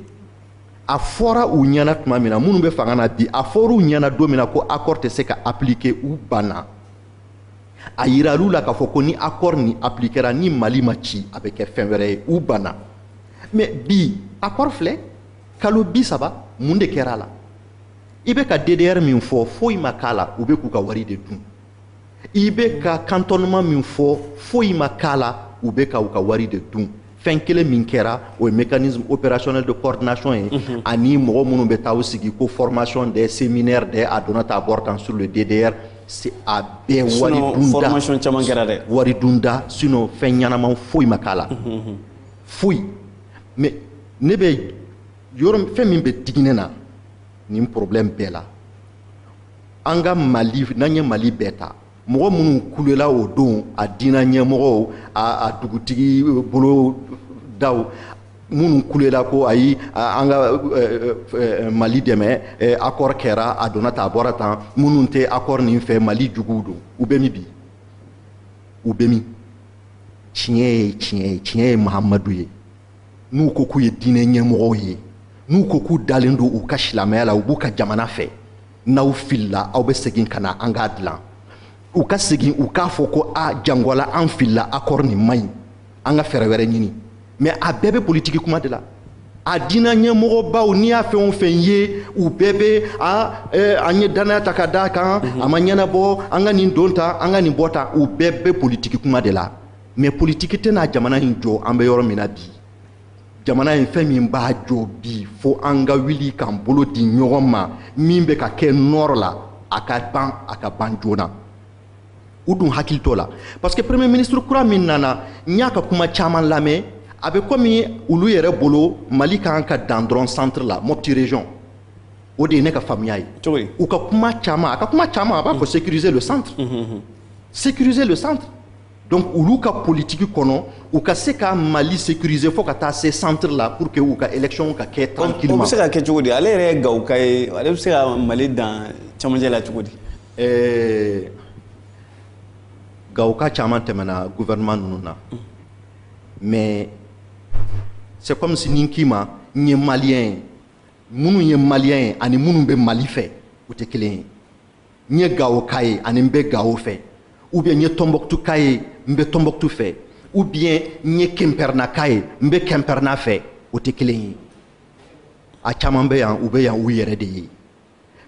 a fɔra u ɲɛna tuma min na minnu bɛ fanga na bi a fɔra u ɲɛna don min na ko accord tɛ se ka appliquer u banna a yiral'u la k'a fɔ ko ni accord nin appliquera ni mali ma ci a bɛ kɛ fɛn wɛrɛ ye u banna mais bi accord filɛ kalo bi saba mun de kɛra a la i bɛ ka ddr min fɔ foyi ma k'a la u bɛ k'u ka wari de dun i bɛ ka cantonnement min fɔ foyi ma k'a la u bɛ ka u ka wari de dun fɛn kelen min kɛra o ye mécanisme opérationnel de coordination ye mhm. ani mɔgɔ minnu bɛ taa u sigi ko formation des séminaires des a donna tan a bɔra tan sur le DDR c'est a bɛɛ wari dunda formation caman kɛra dɛ wari dunda sinon fɛn ɲɛnama foyi ma k'a la mhm, mhm. foyi mais ne bɛ yɔrɔ fɛn min bɛ digi ne na nin problème bɛɛ la an ka mali n'an ye mali bɛɛ ta mɔgɔ minnu kulela o don a diinɛ ɲɛmɔgɔw a dugutigi bulondaw minnu kulela ko ayi an ka mali dɛmɛ akɔri kɛra a donna tan a bɔra tan minnu tɛ akɔri nin fɛ mali juguw don u bɛ min bi u bɛ min tiɲɛ ye tiɲɛ ye tiɲɛ ye mahamadu ye n'u ko k'u ye diinɛ ɲɛmɔgɔw ye n'u ko k'u dalen don u ka silamɛya la u b'u ka jamana fɛ n'aw filila aw bɛ segin ka na an k'a dilan u ka segin u k'a fɔ ko a jangwala an filila akɔri nin man ɲi an ka fɛɛrɛ wɛrɛ ɲini mɛ a bɛɛ bɛ politiki kuma de la a diinɛ ɲɛmɔgɔbaw n'i y'a fɛn o fɛn ye u bɛɛ bɛ a an ye dannaya ta ka d'a kan a ma ɲɛnabɔ an ka nin don tan an ka nin bɔ tan u bɛɛ bɛ politiki kuma de la mais politiki tɛna jamana in jɔ an bɛ yɔrɔ min na bi jamana in fɛn min b'a jɔ bi fo an ka wuli k'an bolo di ɲɔgɔn ma min bɛ ka kɛ nord la a ka ban a ka ban joona u dun hakili t'o la parce que premier ministre kura min nana n y'a ka kuma caman lamɛn a bɛ komi olu yɛrɛ bolo mali kan ka dan dɔrɔn centre la mopti région o de ye ne ka faamuya ye u ka kuma caman a ka kuma caman a b'a fɔ sécuriser le centre mhm, mhm, mhm. sécuriser le centre donc olu ka politiki kɔnɔ u ka se ka mali sécuriser fo ka taa se centre la pour que u ka élection ka kɛ tranquillement o bɛ se ka kɛ cogo di ale yɛrɛ ye gawoka ye ale bɛ se ka mali dan cɛmancɛ la cogo di eh, gawoka caman tɛmɛna gouvernement ninnu na mm. mais c'est comme si ne k'i ma n ye maliyɛn ye minnu ye maliyɛn ye ani minnu bɛ mali fɛ u tɛ kelen ye n ye gawoka ye ani n bɛ gawo fɛ ou bien n ye tɔnbɔkutuka ye n bɛ tɔnbɔkutu fɛ ou bien n ye kɛnpɛrɛnaka ye n bɛ kɛnpɛrɛna fɛ o tɛ kelen ye a caman bɛ yan u bɛ yan u yɛrɛ de ye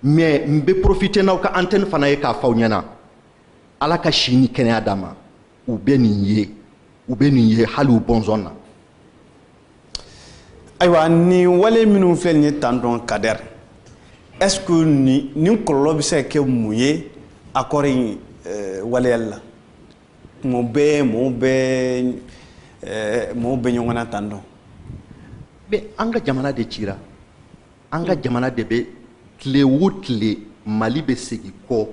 mais n bɛ profiter n'aw ka antenne fana ye k'a fɔ aw ɲɛna ala ka si ni kɛnɛya d'a ma u bɛ nin ye u bɛ nin ye hali u bɔnsɔn na ayiwa nin wale minnu filɛ nin ye tan donc kader est ce que nin nin kɔlɔlɔ bɛ se ka kɛ mun ye accord in eh, waleyali la mɔgɔ bɛɛ mɔgɔw bɛɛ eh, mɔgɔw bɛ ɲɔgɔn na tan dɔn mais an ka jamana de cira an ka jamana de bɛ tile o tile mali bɛ segin kɔ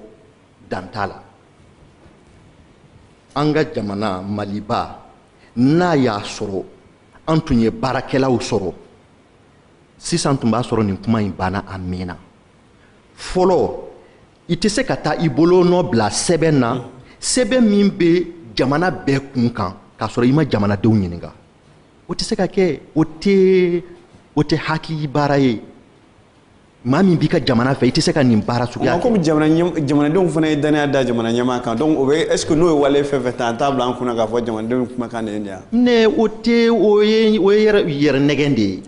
dan t'a la an ka jamana maliba n'a y'a sɔrɔ an tun ye baarakɛlaw sɔrɔ sisan tun b'a sɔrɔ nin kuma in banna a mɛnna fɔlɔ i tɛ se ka taa i bolo nɔ bila sɛbɛn na sɛbɛn min bɛ jamana bɛɛ kun kan k'a sɔrɔ i ma jamanadenw ɲininka o tɛ se ka kɛ o tɛ o tɛ hakili baara ye maa min b'i ka jamana fɛ i tɛ se ka nin baara suguya kɛ. komi jamana jamanadenw fana ye danaya da jamana ɲɛmaa kan donc o bɛ est ce que n'o ye wale fɛn fɛn ta an t'a bila an kun na k'a fɔ jamanadenw kumakan de ye nin ye. ne o tɛ o ye o ye yɛrɛ yɛrɛ nɛgɛn de ye.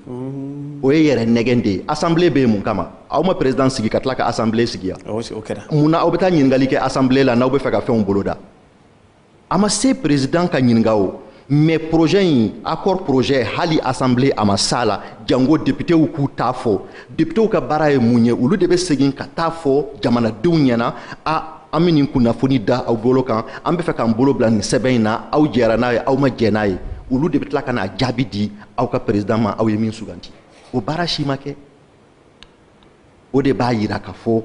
o ye yɛrɛ nɛgɛn de ye assemblée bɛ yen mun kama aw ma président sigi ka tila ka assemblée sigi yan. o kɛra. mun na aw bɛ taa ɲininkali kɛ assemblée la n'aw bɛ fɛ ka fɛnw boloda. a ma se président ka ɲininka o mais projet in accord projet hali assemblée a ma s'a la jango depitew k'u t'a fɔ depitew ka baara ye mun ye olu de bɛ segin ka t'a fɔ jamanadenw ɲɛna a an bɛ nin kunnafoni da aw bolo kan an bɛ fɛ k'an bolo bila nin sɛbɛn in na aw jɛra n'a ye aw ma jɛ n'a ye olu de bɛ tila ka n'a jaabi di aw ka président ma aw ye min suganti o baara si ma kɛ o de b'a yira k'a fɔ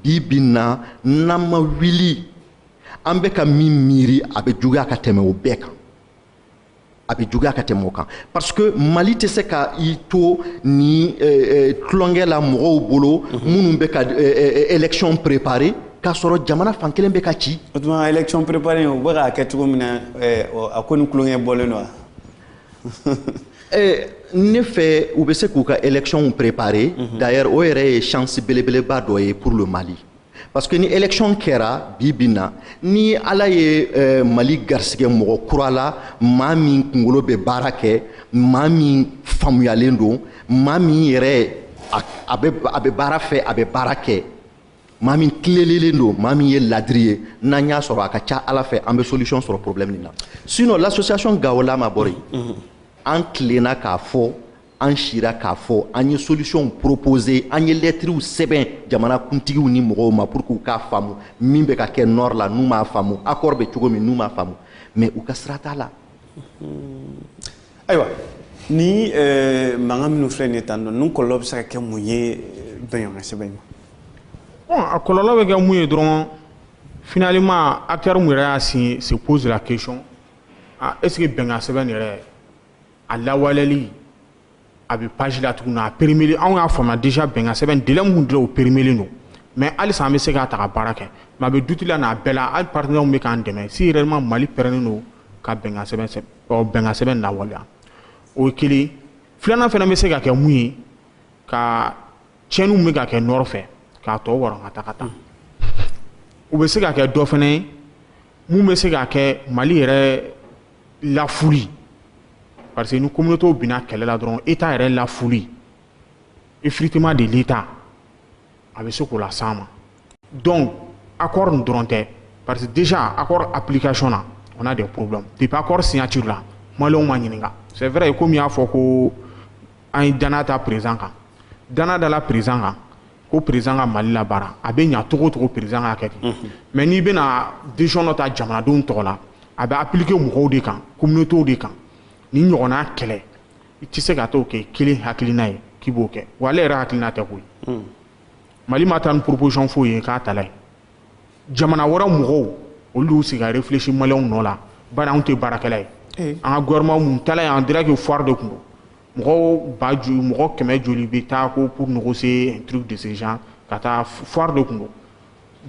bi bi in na n'an ma wuli an bɛ ka min miiri a bɛ juguya ka tɛmɛ o bɛɛ kan a bɛ juguya ka tɛmɛ o kan parce que mali tɛ se ka i to ni tulonkɛ eh, eh, la mɔgɔw bolo mhm. minnu bɛ ka eh, élection préparer k'a sɔrɔ jamana fan kelen bɛ ka ci. o tuma élection préparer u bɛ k'a kɛ cogo min na a ko ni tulonkɛ bɔlen don wa. Eh, ne fɛ u bɛ se k'u ka élections préparer mhm. d'ailleurs o yɛrɛ ye chance belebeleba dɔ ye pour le Mali parce que ni élection kɛra bi bi na ni ala ye eh, mali garisɛgɛ mɔgɔ kura la maa min kungolo bɛ baara kɛ maa min faamuyalen don maa min yɛrɛ a bɛ baara fɛ a bɛ baara kɛ maa min tilelelen don maa min ye ladiri ye n'an y'a sɔrɔ a ka ca ala fɛ an bɛ solution sɔrɔ problème nin na sinon l'association Gao Lama Borey an tilenna k'a fɔ an sira k'a fɔ an ye solutionw proposer an ye lɛtiriw sɛbɛn jamana kuntigiw ni mɔgɔw ma pour que u k'a faamu min bɛ ka kɛ nord la n'u m'a faamu accord bɛ cogo min n'u m'a faamu mais u ka sira t'a la ayiwa ni eh, mankan minnu filɛ nin ye tan dɔn ninnu kɔlɔlɔ bɛ se ka kɛ mun ye eh, bɛnɲɔgɔn sɛbɛn in ma a kɔlɔlɔ bɛ kɛ mun ye dɔrɔn finalement acteur mun yɛrɛ y'a signé se pose la question ah, est-ce que bɛnkan sɛbɛn yɛrɛ a lawaleli a bɛ page la tuguni a périmé anw y'a faamuya déjà bɛnkan sɛbɛn délai min dira o périmé don mais halisa an bɛ se k'a ta ka baara kɛ mais a bɛ doute la n'a bɛɛ la hali partenaires bɛ k'an dɛmɛ si réellement Mali pɛrɛnnen don ka bɛnkan sɛbɛn sɛbɛn ɔ bɛnkan sɛbɛn lawaleya o ye kelen filanan fana bɛ se ka kɛ mun ye ka tiɲɛniw bɛ ka kɛ nord fɛ k'a tɔ wɔrɔ ka taa ka taa u bɛ se ka kɛ dɔ fana ye mun bɛ se ka kɛ Mali yɛrɛ lafuli parce que ni communauté binna kɛlɛ la dɔrɔn état yɛrɛ lafuli effritement de l'état a bɛ se k'o las'an ma donc accord nin dɔrɔn tɛ parce que déjà accord application na on a des problèmes depuis accord signature la maliyɛnw ma ɲininka c'est vrai komi i y'a fɔ ko an ye danaya da président kan danaya dala président kan ko président ka mali la baara a bɛ ɲa cogo cogo président ka kɛ ten mais n'i bɛna décision dɔ ta jamanadenw tɔgɔ la a bɛ appliquer mɔgɔw de kan communautéw de kan ni ɲɔgɔnna kɛlɛ i tɛ se ka t'o kɛ kelen hakilina ye k'i b'o kɛ wa ale yɛrɛ hakilina tɛ koyi mali ma taa ni proposition foyi ye k'a tala ye jamana wɛrɛ mɔgɔw olu y'u sigi ka réfléchir maliyɛnw nɔ la bari anw tɛ baarakɛla ye eh. an ka gouvernement mun taala yen on dirait que foire de tun don mɔgɔ ba joli mɔgɔ kɛmɛ joli bɛ taa ko pour négocier un truc de ce genre ka taa foire de tun don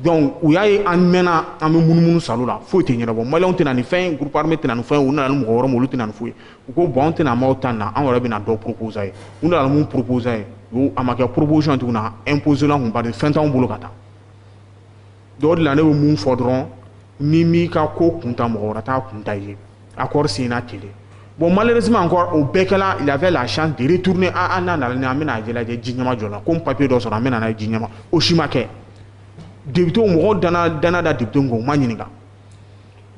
donc u y'a ye an mɛnna an bɛ munumunu salle la foyi tɛ ɲɛnabɔ maliyɛnw tɛ na ni fɛn ye groupe armé tɛ na ni fɛn ye u nana ni mɔgɔ wɛrɛ ma olu tɛ na ni foyi u ko bon anw tɛna maaw ta nin na anw yɛrɛ bɛna dɔ proposer aw ye u nana mun proposer an ye a ma kɛ proposition tuguni a imposer l'an kun bari fɛn t'anw bolo ka taa donc o de la ne bɛ mun fɔ dɔrɔn n'i m'i ka ko kunta mɔgɔ wɛrɛ t'a kunta i ye accord signé kelen bon malheureusement encore o bɛɛ kɛla il avait la chance de retourner a ah, an ah, n'a nana ni an bɛna a jɛlajɛ ji ɲɛma jɔ la ko n papier dɔ sɔrɔ an bɛna n'a ye ji ɲɛma o si ma kɛ députéw mɔgɔw dana dana da députéw kan u ma ɲininka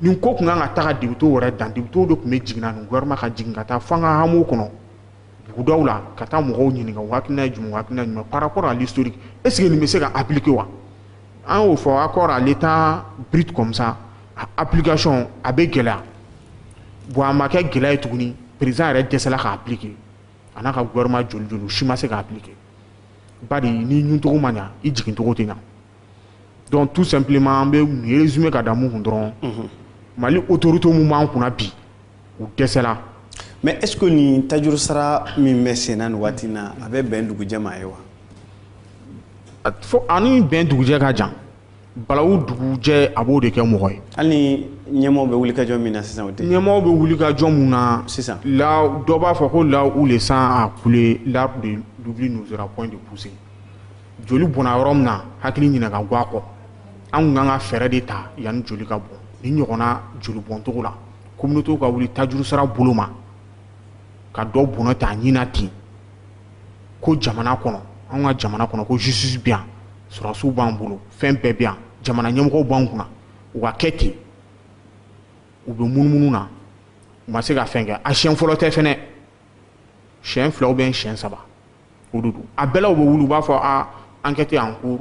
nin ko tun kan ka taga députéw yɛrɛ dan députéw de tun bɛ jigin ani gouvernement ka jigin ka taa fo an ka hameau kɔnɔ bugudaw la ka taa mɔgɔw ɲininka u hakilina ye jumɛn u hakilina ye jumɛn par rapport à l'historique est ce que nin bɛ se ka appliquer wa an y'o fɔ accord à l'état brut comme ça a application a bɛ gɛlɛya bon a ma kɛ gɛlɛya ye tuguni président yɛrɛ dɛsɛla k'a appliquer a n'a ka gouvernement joli joli u si ma se k'a appliquer bari n'i ɲuncogo ma ɲa i jigincogo tɛ ɲa donc tout simplement an bɛ nin résumé ka da mun kun dɔrɔn mali autorité mun b'an kunna bi u dɛsɛla mais est ce que nin tajuru sara min bɛ sen na nin waati in na a bɛ bɛn dugujɛ ma a ye wa fo ani bɛn dugujɛ ka jan balawu dugujɛ a b'o de kɛ mɔgɔ ye hali ni ɲɛmɔgɔw bɛ wuli ka jɔ min na sisan o tɛ ɲɛmɔgɔw bɛ wuli ka jɔ mun na sisan la dɔ b'a fɔ ko là où le sang a coulé l'arbre de l'oubli n'osera point de pousser joli bɔnna yɔrɔ min na hakili ɲinɛ ka gwan a kɔ an kun kan ka fɛɛrɛ de ta yanni joli ka bɔn nin ɲɔgɔnna joli bɔncogo la communautéw ka wuli tajurusara bolo ma ka dɔ bɔnɛ ta nin na ten ko jamana kɔnɔ an ka jamana kɔnɔ ko justice bɛ yan sɔrɔsiw b'an bolo fɛn bɛɛ bɛ yan jamana ɲɛmɔgɔw b'an kunna u ka kɛ ten u bɛ munumunu na u ma se ka fɛn kɛ a siɲɛ fɔlɔ tɛ fɛnɛ siɲɛ fila ou bien siɲɛ saba a bɛɛlaw bɛ wulu b'a fɔ an kɛ an ko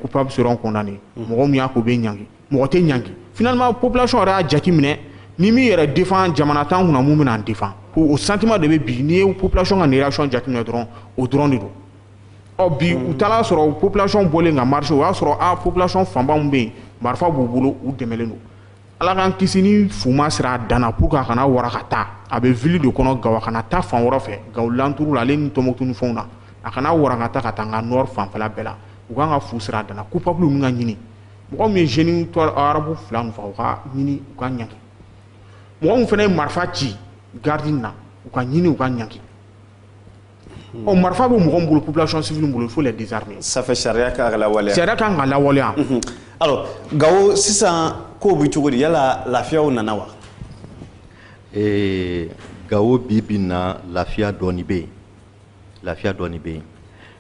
kupa bɛ sɔrɔ kɔnɔna de mɔgɔ min y'a ko bɛ ɲ mɔgɔ tɛ ɲki fma pplasi yɛrɛ y'a jate minɛ ni min yɛrɛ defan jamana tan kun minnu bɛ'an defan o santima de bɛ bi n'i ye pplasi ka ni yɛrɛc jate minɛ dɔrɔn o dɔrɔn de don ɔ bi u taara y'a sɔrɔ pplasi bɔlen nka mari o y'a sɔrɔ a pplasi fanba bɛ yen marifa b'u bolo u dɛmɛ don ala k'an kisi ni fu ma siri a dan na pour que a kana wara ka taa a bɛ ville de kɔnɔ gawo a kana taa fan wɛrɛ fɛ gawo alentours la ale ni tɔnbukutu ni fɛnw na a kana wara ka taa ka taa an ka nord fanfɛla bɛɛ la u kan ka fu siri a dan na coupable ninnu ka ɲini mɔgɔ min ye jeune arabu fila ninnu faga u ka ɲini u ka ɲangi mɔgɔ min fana ye marifa ci garidi na u ka ɲini u ka ɲangi ɔ marifa bɛ mɔgɔ min bolo population civile bolo il faut les désarmer ça fait sariya kan ka lawaleya sariya kan ka lawaleya mhm. alors gawo sisan kow bɛ cogo di yala lafiyaw nana wa ee gawo bi bi in na lafiya dɔɔni bɛ yen lafiya dɔɔni bɛ yen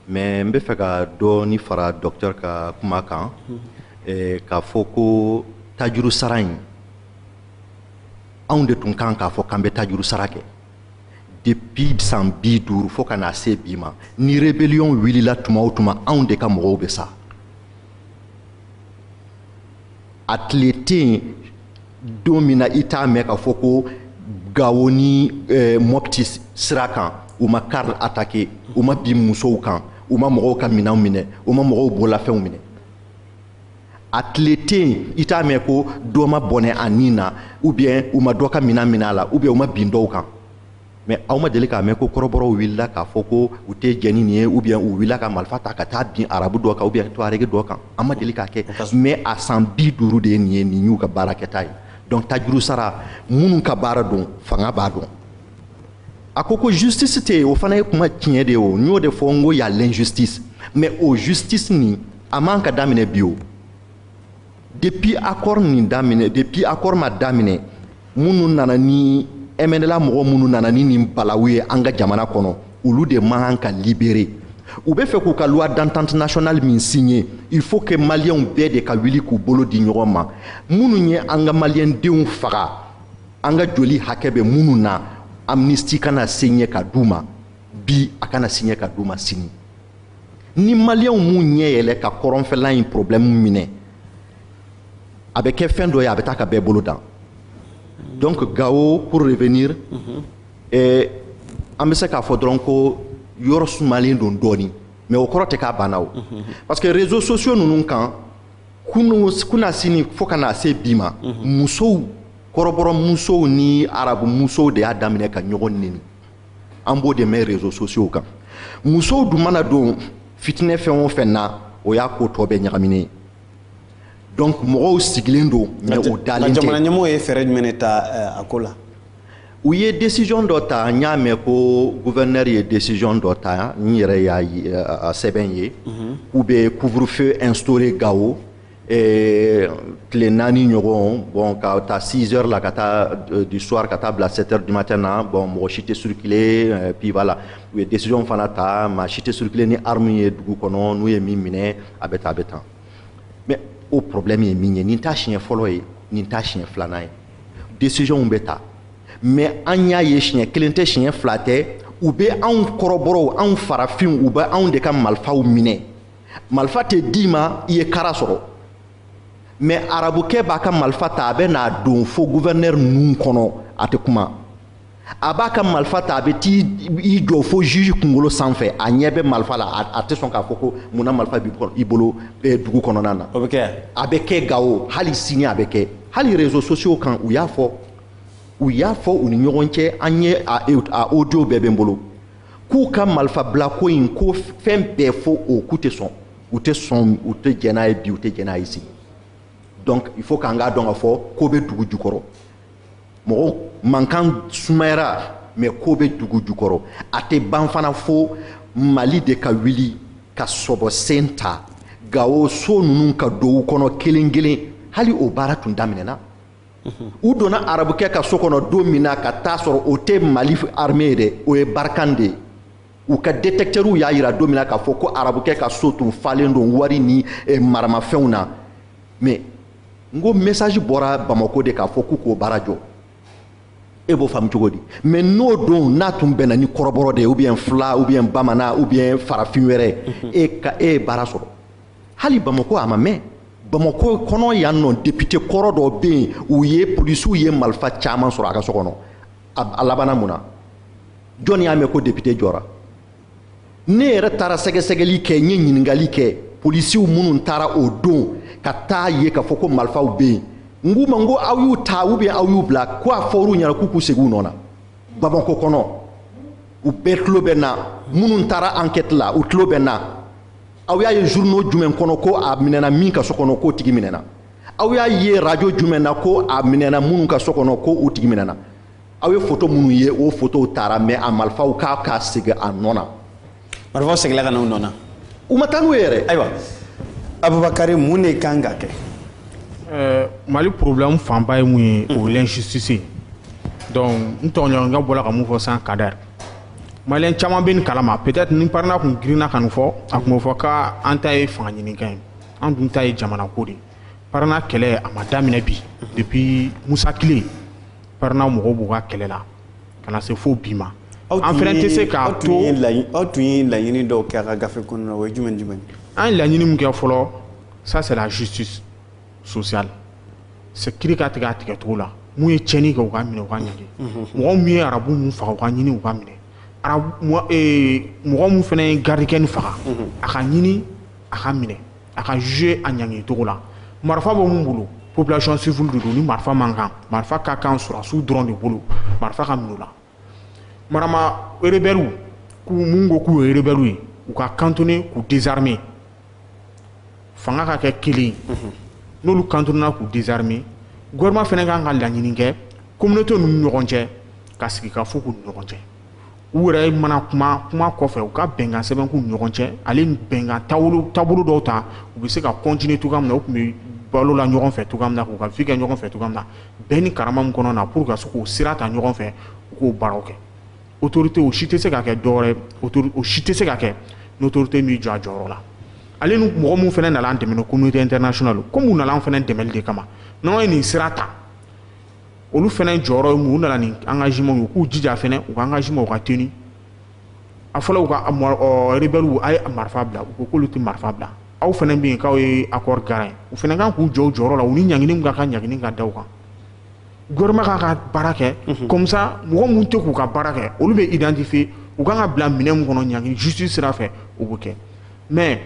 mais n bɛ fɛ ka dɔɔni fara docteur ka kuma kan mhm. eh, k'a fɔ ko tajuru sara in anw de tun kan k'a fɔ k'an bɛ tajuru sara kɛ depuis san bi duuru fo ka na se bi ma ni rebellion wulila tuma o tuma anw de ka mɔgɔw bɛ sa a tile tɛ yen don min na i t'a mɛn k'a fɔ ko gawo ni eh, mɔpiti sira kan u ma kari atake u ma bin musow kan u ma mɔgɔw ka minɛnw minɛ u ma mɔgɔw bolafɛnw minɛ a tile tɛ yen i t'a mɛn ko dɔ ma bɔnɛ a ni na ubiyɛn u ma dɔ ka minɛn minɛ a la ubiyɛn u ma bin dɔw kan mɛ aw ma deli k'a mɛn ko kɔrɔbɔrɔw wulila k'a fɔ ko u tɛ jɛn ni nin ye ubiyɛn u wulila ka marifa ta ka taa bin arabu dɔ kan ubiyɛn tuwaregi dɔ kan an ma deli k'a kɛ mɛ a san bi duuru de ye nin ye nin y'u ka baarakɛta ye dɔnku tajuru sara minnu ka baara don fanga b'a dɔn a ko ko justice tɛ yen o fana ye kuma tiɲɛ de ye o n y'o de fɔ n ko y'a l'injustice mais o justice nin a man ka daminɛ bi o depuis accord nin daminɛ depuis accord ma daminɛ minnu nana ni MNLA mɔgɔ minnu nana ni nin balawu ye an ka jamana kɔnɔ olu de man ka libérer u bɛ fɛ k'u ka loi d'entente nationale min signer il faut que maliyɛnw bɛɛ de ka wuli k'u bolo di ɲɔgɔn ma minnu ye an ka maliyɛndenw faga an ka joli hakɛ bɛ minnu na amnistie kana signer ka d'u ma bi a kana signer ka d'u ma sini ni maliyɛnw m'u ɲɛ yɛlɛ ka kɔrɔnfɛla in problɛmu minɛ a bɛ kɛ fɛn dɔ ye a bɛ taa ka bɛɛ bolo dan donc gawo pour revenir mm -hmm. eh, an bɛ se k'a fɔ dɔrɔn ko yɔrɔ sumalen don dɔɔni mais o kɔrɔ tɛ k'a banna o mhm. parce que réseaux sociaux ninnu kan kunun kunasini fo ka na se bi ma mhm. musow kɔrɔbɔrɔ musow ni arabu musow de y'a daminɛ ka ɲɔgɔn neni an b'o de mɛn rezo sosiyow kan musow dun mana don fitinɛ fɛn o fɛn na o y'a ko tɔ bɛɛ ɲagaminen ye donc mɔgɔw sigilen don mɛ o dalen tɛ jamana ɲɛmɔgɔ ye fɛɛrɛ jumɛn de ta eh, a ko la u ye décision dɔ ta n y'a mɛn ko gouverneur ye décision dɔ ta n yɛrɛ y'a eh, sɛbɛn ye mhm. k'u bɛ couvre feu instaurer gawo tile naani ɲɔgɔn bon ka taa 6 heures la ka taa euh, du soir ka taa bila 7 heures du matin na bon mɔgɔ si tɛ circuler euh, puis voilà u ye décision fana ta maa si tɛ circuler ni arme ye dugu kɔnɔ n'u ye min minɛ a bɛ tan a bɛ tan mais o problème ye min ye nin t'a siɲɛ fɔlɔ ye nin t'a siɲɛ filanan ye décision bɛ ta mais an y'a ye siɲɛ kelen tɛ siɲɛ fila tɛ u bɛ anw kɔrɔbɔrɔw anw farafinw u bɛ anw de ka malifaw minɛ malifa tɛ d'i ma i ye kara sɔrɔ mɛ arabukɛ b'a ka malifa ta a bɛ n'a don fo guvɛrinɛri ninnu kɔnɔ a tɛ kuma a b'a ka malifa ta a bɛ t'i jɔ fo juge kunkolo sanfɛ a ɲɛ bɛ malifa la a tɛ sɔn k'a fɔ ko mun na malifa b'i bolo eh, dugu kɔnɔna na o bɛ kɛ a bɛ kɛ gawo hali sini a bɛ kɛ hali réseaux sociaux kan u y'a fɔ u y'a fɔ u ni ɲɔgɔn cɛ an ye a audio bɛɛ bɛ n bolo k'u ka malifabilako in ko fɛn bɛɛ fo o k'u tɛ sɔn u tɛ sɔn u tɛ jɛn n'a ye bi u tɛ jɛn n'a ye sini donc il faut k'an k'a dɔn k'a fɔ ko bɛ dugu jukɔrɔ mɔgɔw mankan sumayara mais ko bɛ dugu jukɔrɔ a tɛ ban fana fo mali de ka wuli ka sɔbɔ sen ta gawo so ninnu ka don u kɔnɔ kelen kelen hali o baara tun daminɛna u donna arabukɛ ka so kɔnɔ don min na ka taa sɔrɔ o tɛ mali arme dɛ o ye barikan de u ka detɛktɛriw y'a yira don min na k'a fɔ ko arabukɛ ka so tun falen don wari ni eh, maramafɛnw na mɛ n ko mesaji bɔra bamako de k'a fɔ k'u k'o baara jɔ e b'o faamu cogo di mɛ n'o don n'a tun bɛnna ni kɔrɔbɔrɔ de ye ubiyɛn fila ubiyɛn bamanan ubiyɛn farafin wɛrɛ mhm. e ka e ye baara sɔrɔ hali bamako a ma mɛn bamako kɔnɔ yan nɔ depite kɔrɔ dɔ bɛ yen u ye polisiw ye malifa caman sɔrɔ a ka so kɔnɔ a labanna mun na jɔni y'a mɛn ko depite jɔra ne yɛrɛ taara sɛgɛsɛgɛli kɛ n ye ɲininkali kɛ polisiw minnu taara o don ka taa ye k'a fɔ ko malifaw bɛ yen n k'u ma n ko aw y'u ta ubiyɛn aw y'u bila ko a fɔr'u ɲɛna k'u k'u segin u nɔ na bamako kɔnɔ u bɛɛ tulo bɛ n na minnu taara ankɛti la u tulo bɛ n na aw y'a ye journaux jumɛn kɔnɔ ko a minɛna min ka so kɔnɔ k'o tigi minɛna aw y'a ye radio jumɛn na ko a minɛna minnu ka so kɔnɔ ko u tigi minɛna aw ye foto minnu ye o fotow taara mɛ a marifaw k'a ka segin a nɔ na marifaw seginla ka na u nɔ na u ma taa n'u ye yɛrɛ ayiwa abubakari mun de kan ka kɛ eh, mali problème fanba ye mun ye o l'injustice donc n tɔɲɔgɔnkɛ bɔla ka mun fɔ san kadɛri Maliyɛn caman bɛ nin kalama peut-être ni Parena kun girinna ka nin fɔ a kun bɛ fɔ k'an ta ye fanga ɲinikan ye an dun ta ye jamana ko de Parena kɛlɛ a ma daminɛ bi depuis Musa kile Parena mɔgɔw b'u ka kɛlɛ la ka na se fo bi ma an fɛnɛ tɛ se k'a to aw tun ye laɲini dɔw kɛ a ka gafe kɔnɔ o ye jumɛn jumɛn an ye laɲini min kɛ fɔlɔ ça c'est la justice sociale c'est kiri ka tigɛ a tigɛcogo la mun ye cɛnni kɛ u ka minɛ u ka ɲangi mɔgɔ min ye arabu min faga u ka ɲini u ka minɛ mɔgɔ min fɛnɛ ye garidikɛ nin faga a ka ɲini a ka minɛ a ka juger a ɲangicogo la marifa bɛ min bolo population civile de don ni marifa man kan marifa ka kan sɔrɔsiw dɔrɔn de bolo marifa ka minɛ i la marama rebelles mun ko k'u ye rebelles ye u ka cantonner k'u désarmer fanga ka kɛ kelen mhm. n'olu cantonnena k'u désarmer gouvernement fɛnɛ kan ka laɲini kɛ communauté ninnu ɲɔgɔn cɛ ka sigi ka fɔ k'u ɲɔgɔn cɛ u yɛrɛ mana kuma kuma kɔfɛ u ka bɛnkan sɛbɛn k'u ɲɔgɔn cɛ ale bɛnkan taabolo dɔw ta u bɛ se ka continuer cogoya min na u tun bɛ balo la ɲɔgɔn fɛ cogoya min na k'u ka vie kɛ ɲɔgɔn fɛ cogoya min na bɛn ni karama min kɔnɔ na pour ka se k'o sira ta ɲɔgɔn fɛ u k'o baaraw kɛ autorité o si tɛ se ka kɛ dɔwɛrɛ o si tɛ se ka kɛ ni autorité m'i jɔ a jɔyɔrɔ la ale ni mɔgɔ minnu fɛnɛ nana an dɛmɛ communauté internationale komi u nana an fɛnɛ dɛmɛli de kama n'an ye nin sira ta olu fɛnɛ jɔyɔrɔ ye mun u nana ni engagement ye u k'u jija fɛnɛ u ka engagement u ka tenu a fɔla u ka rebelles a ye marifa bila u ko k'olu tɛ marifa bila aw fɛnɛ bɛ yen k'aw ye accord garant u fɛnɛ kan k'u jɔ u jɔyɔrɔ la u ni ɲangini ka kan ɲangini ka da u kan gouvernement k'a ka baara kɛ mhm. comme ça mɔgɔ minnu tɛ k'u ka baara kɛ olu bɛ identifier u kan ka bila minɛn min kɔnɔ ɲangini justice sira fɛ o bɛ kɛ mais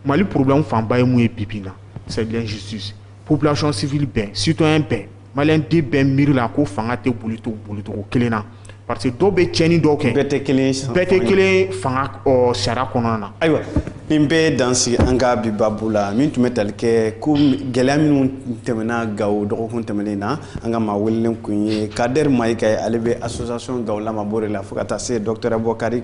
Mali problème fanba ye mun ye bi bi in na c'est l'injustice population civile bɛɛ citoyen bɛɛ malien den bɛɛ miiri la ko fanga tɛ bolito bolicogo kelen na parce que dɔw bɛ cɛni dɔw kɛ bɛɛ tɛ kelen fanga sariya kɔnɔna na ayiwa nin bɛ dan sigi an ka bi babu la min tun bɛ tali kɛ ko gɛlɛya minnu tɛmɛna gawo dɔgɔkun tɛmɛnen na an ka maa welelen kun ye kadɛri mayiga ye ale bɛ association gawo lama bore la fo ka taa se dɔgɔtɔrɔ bɔkari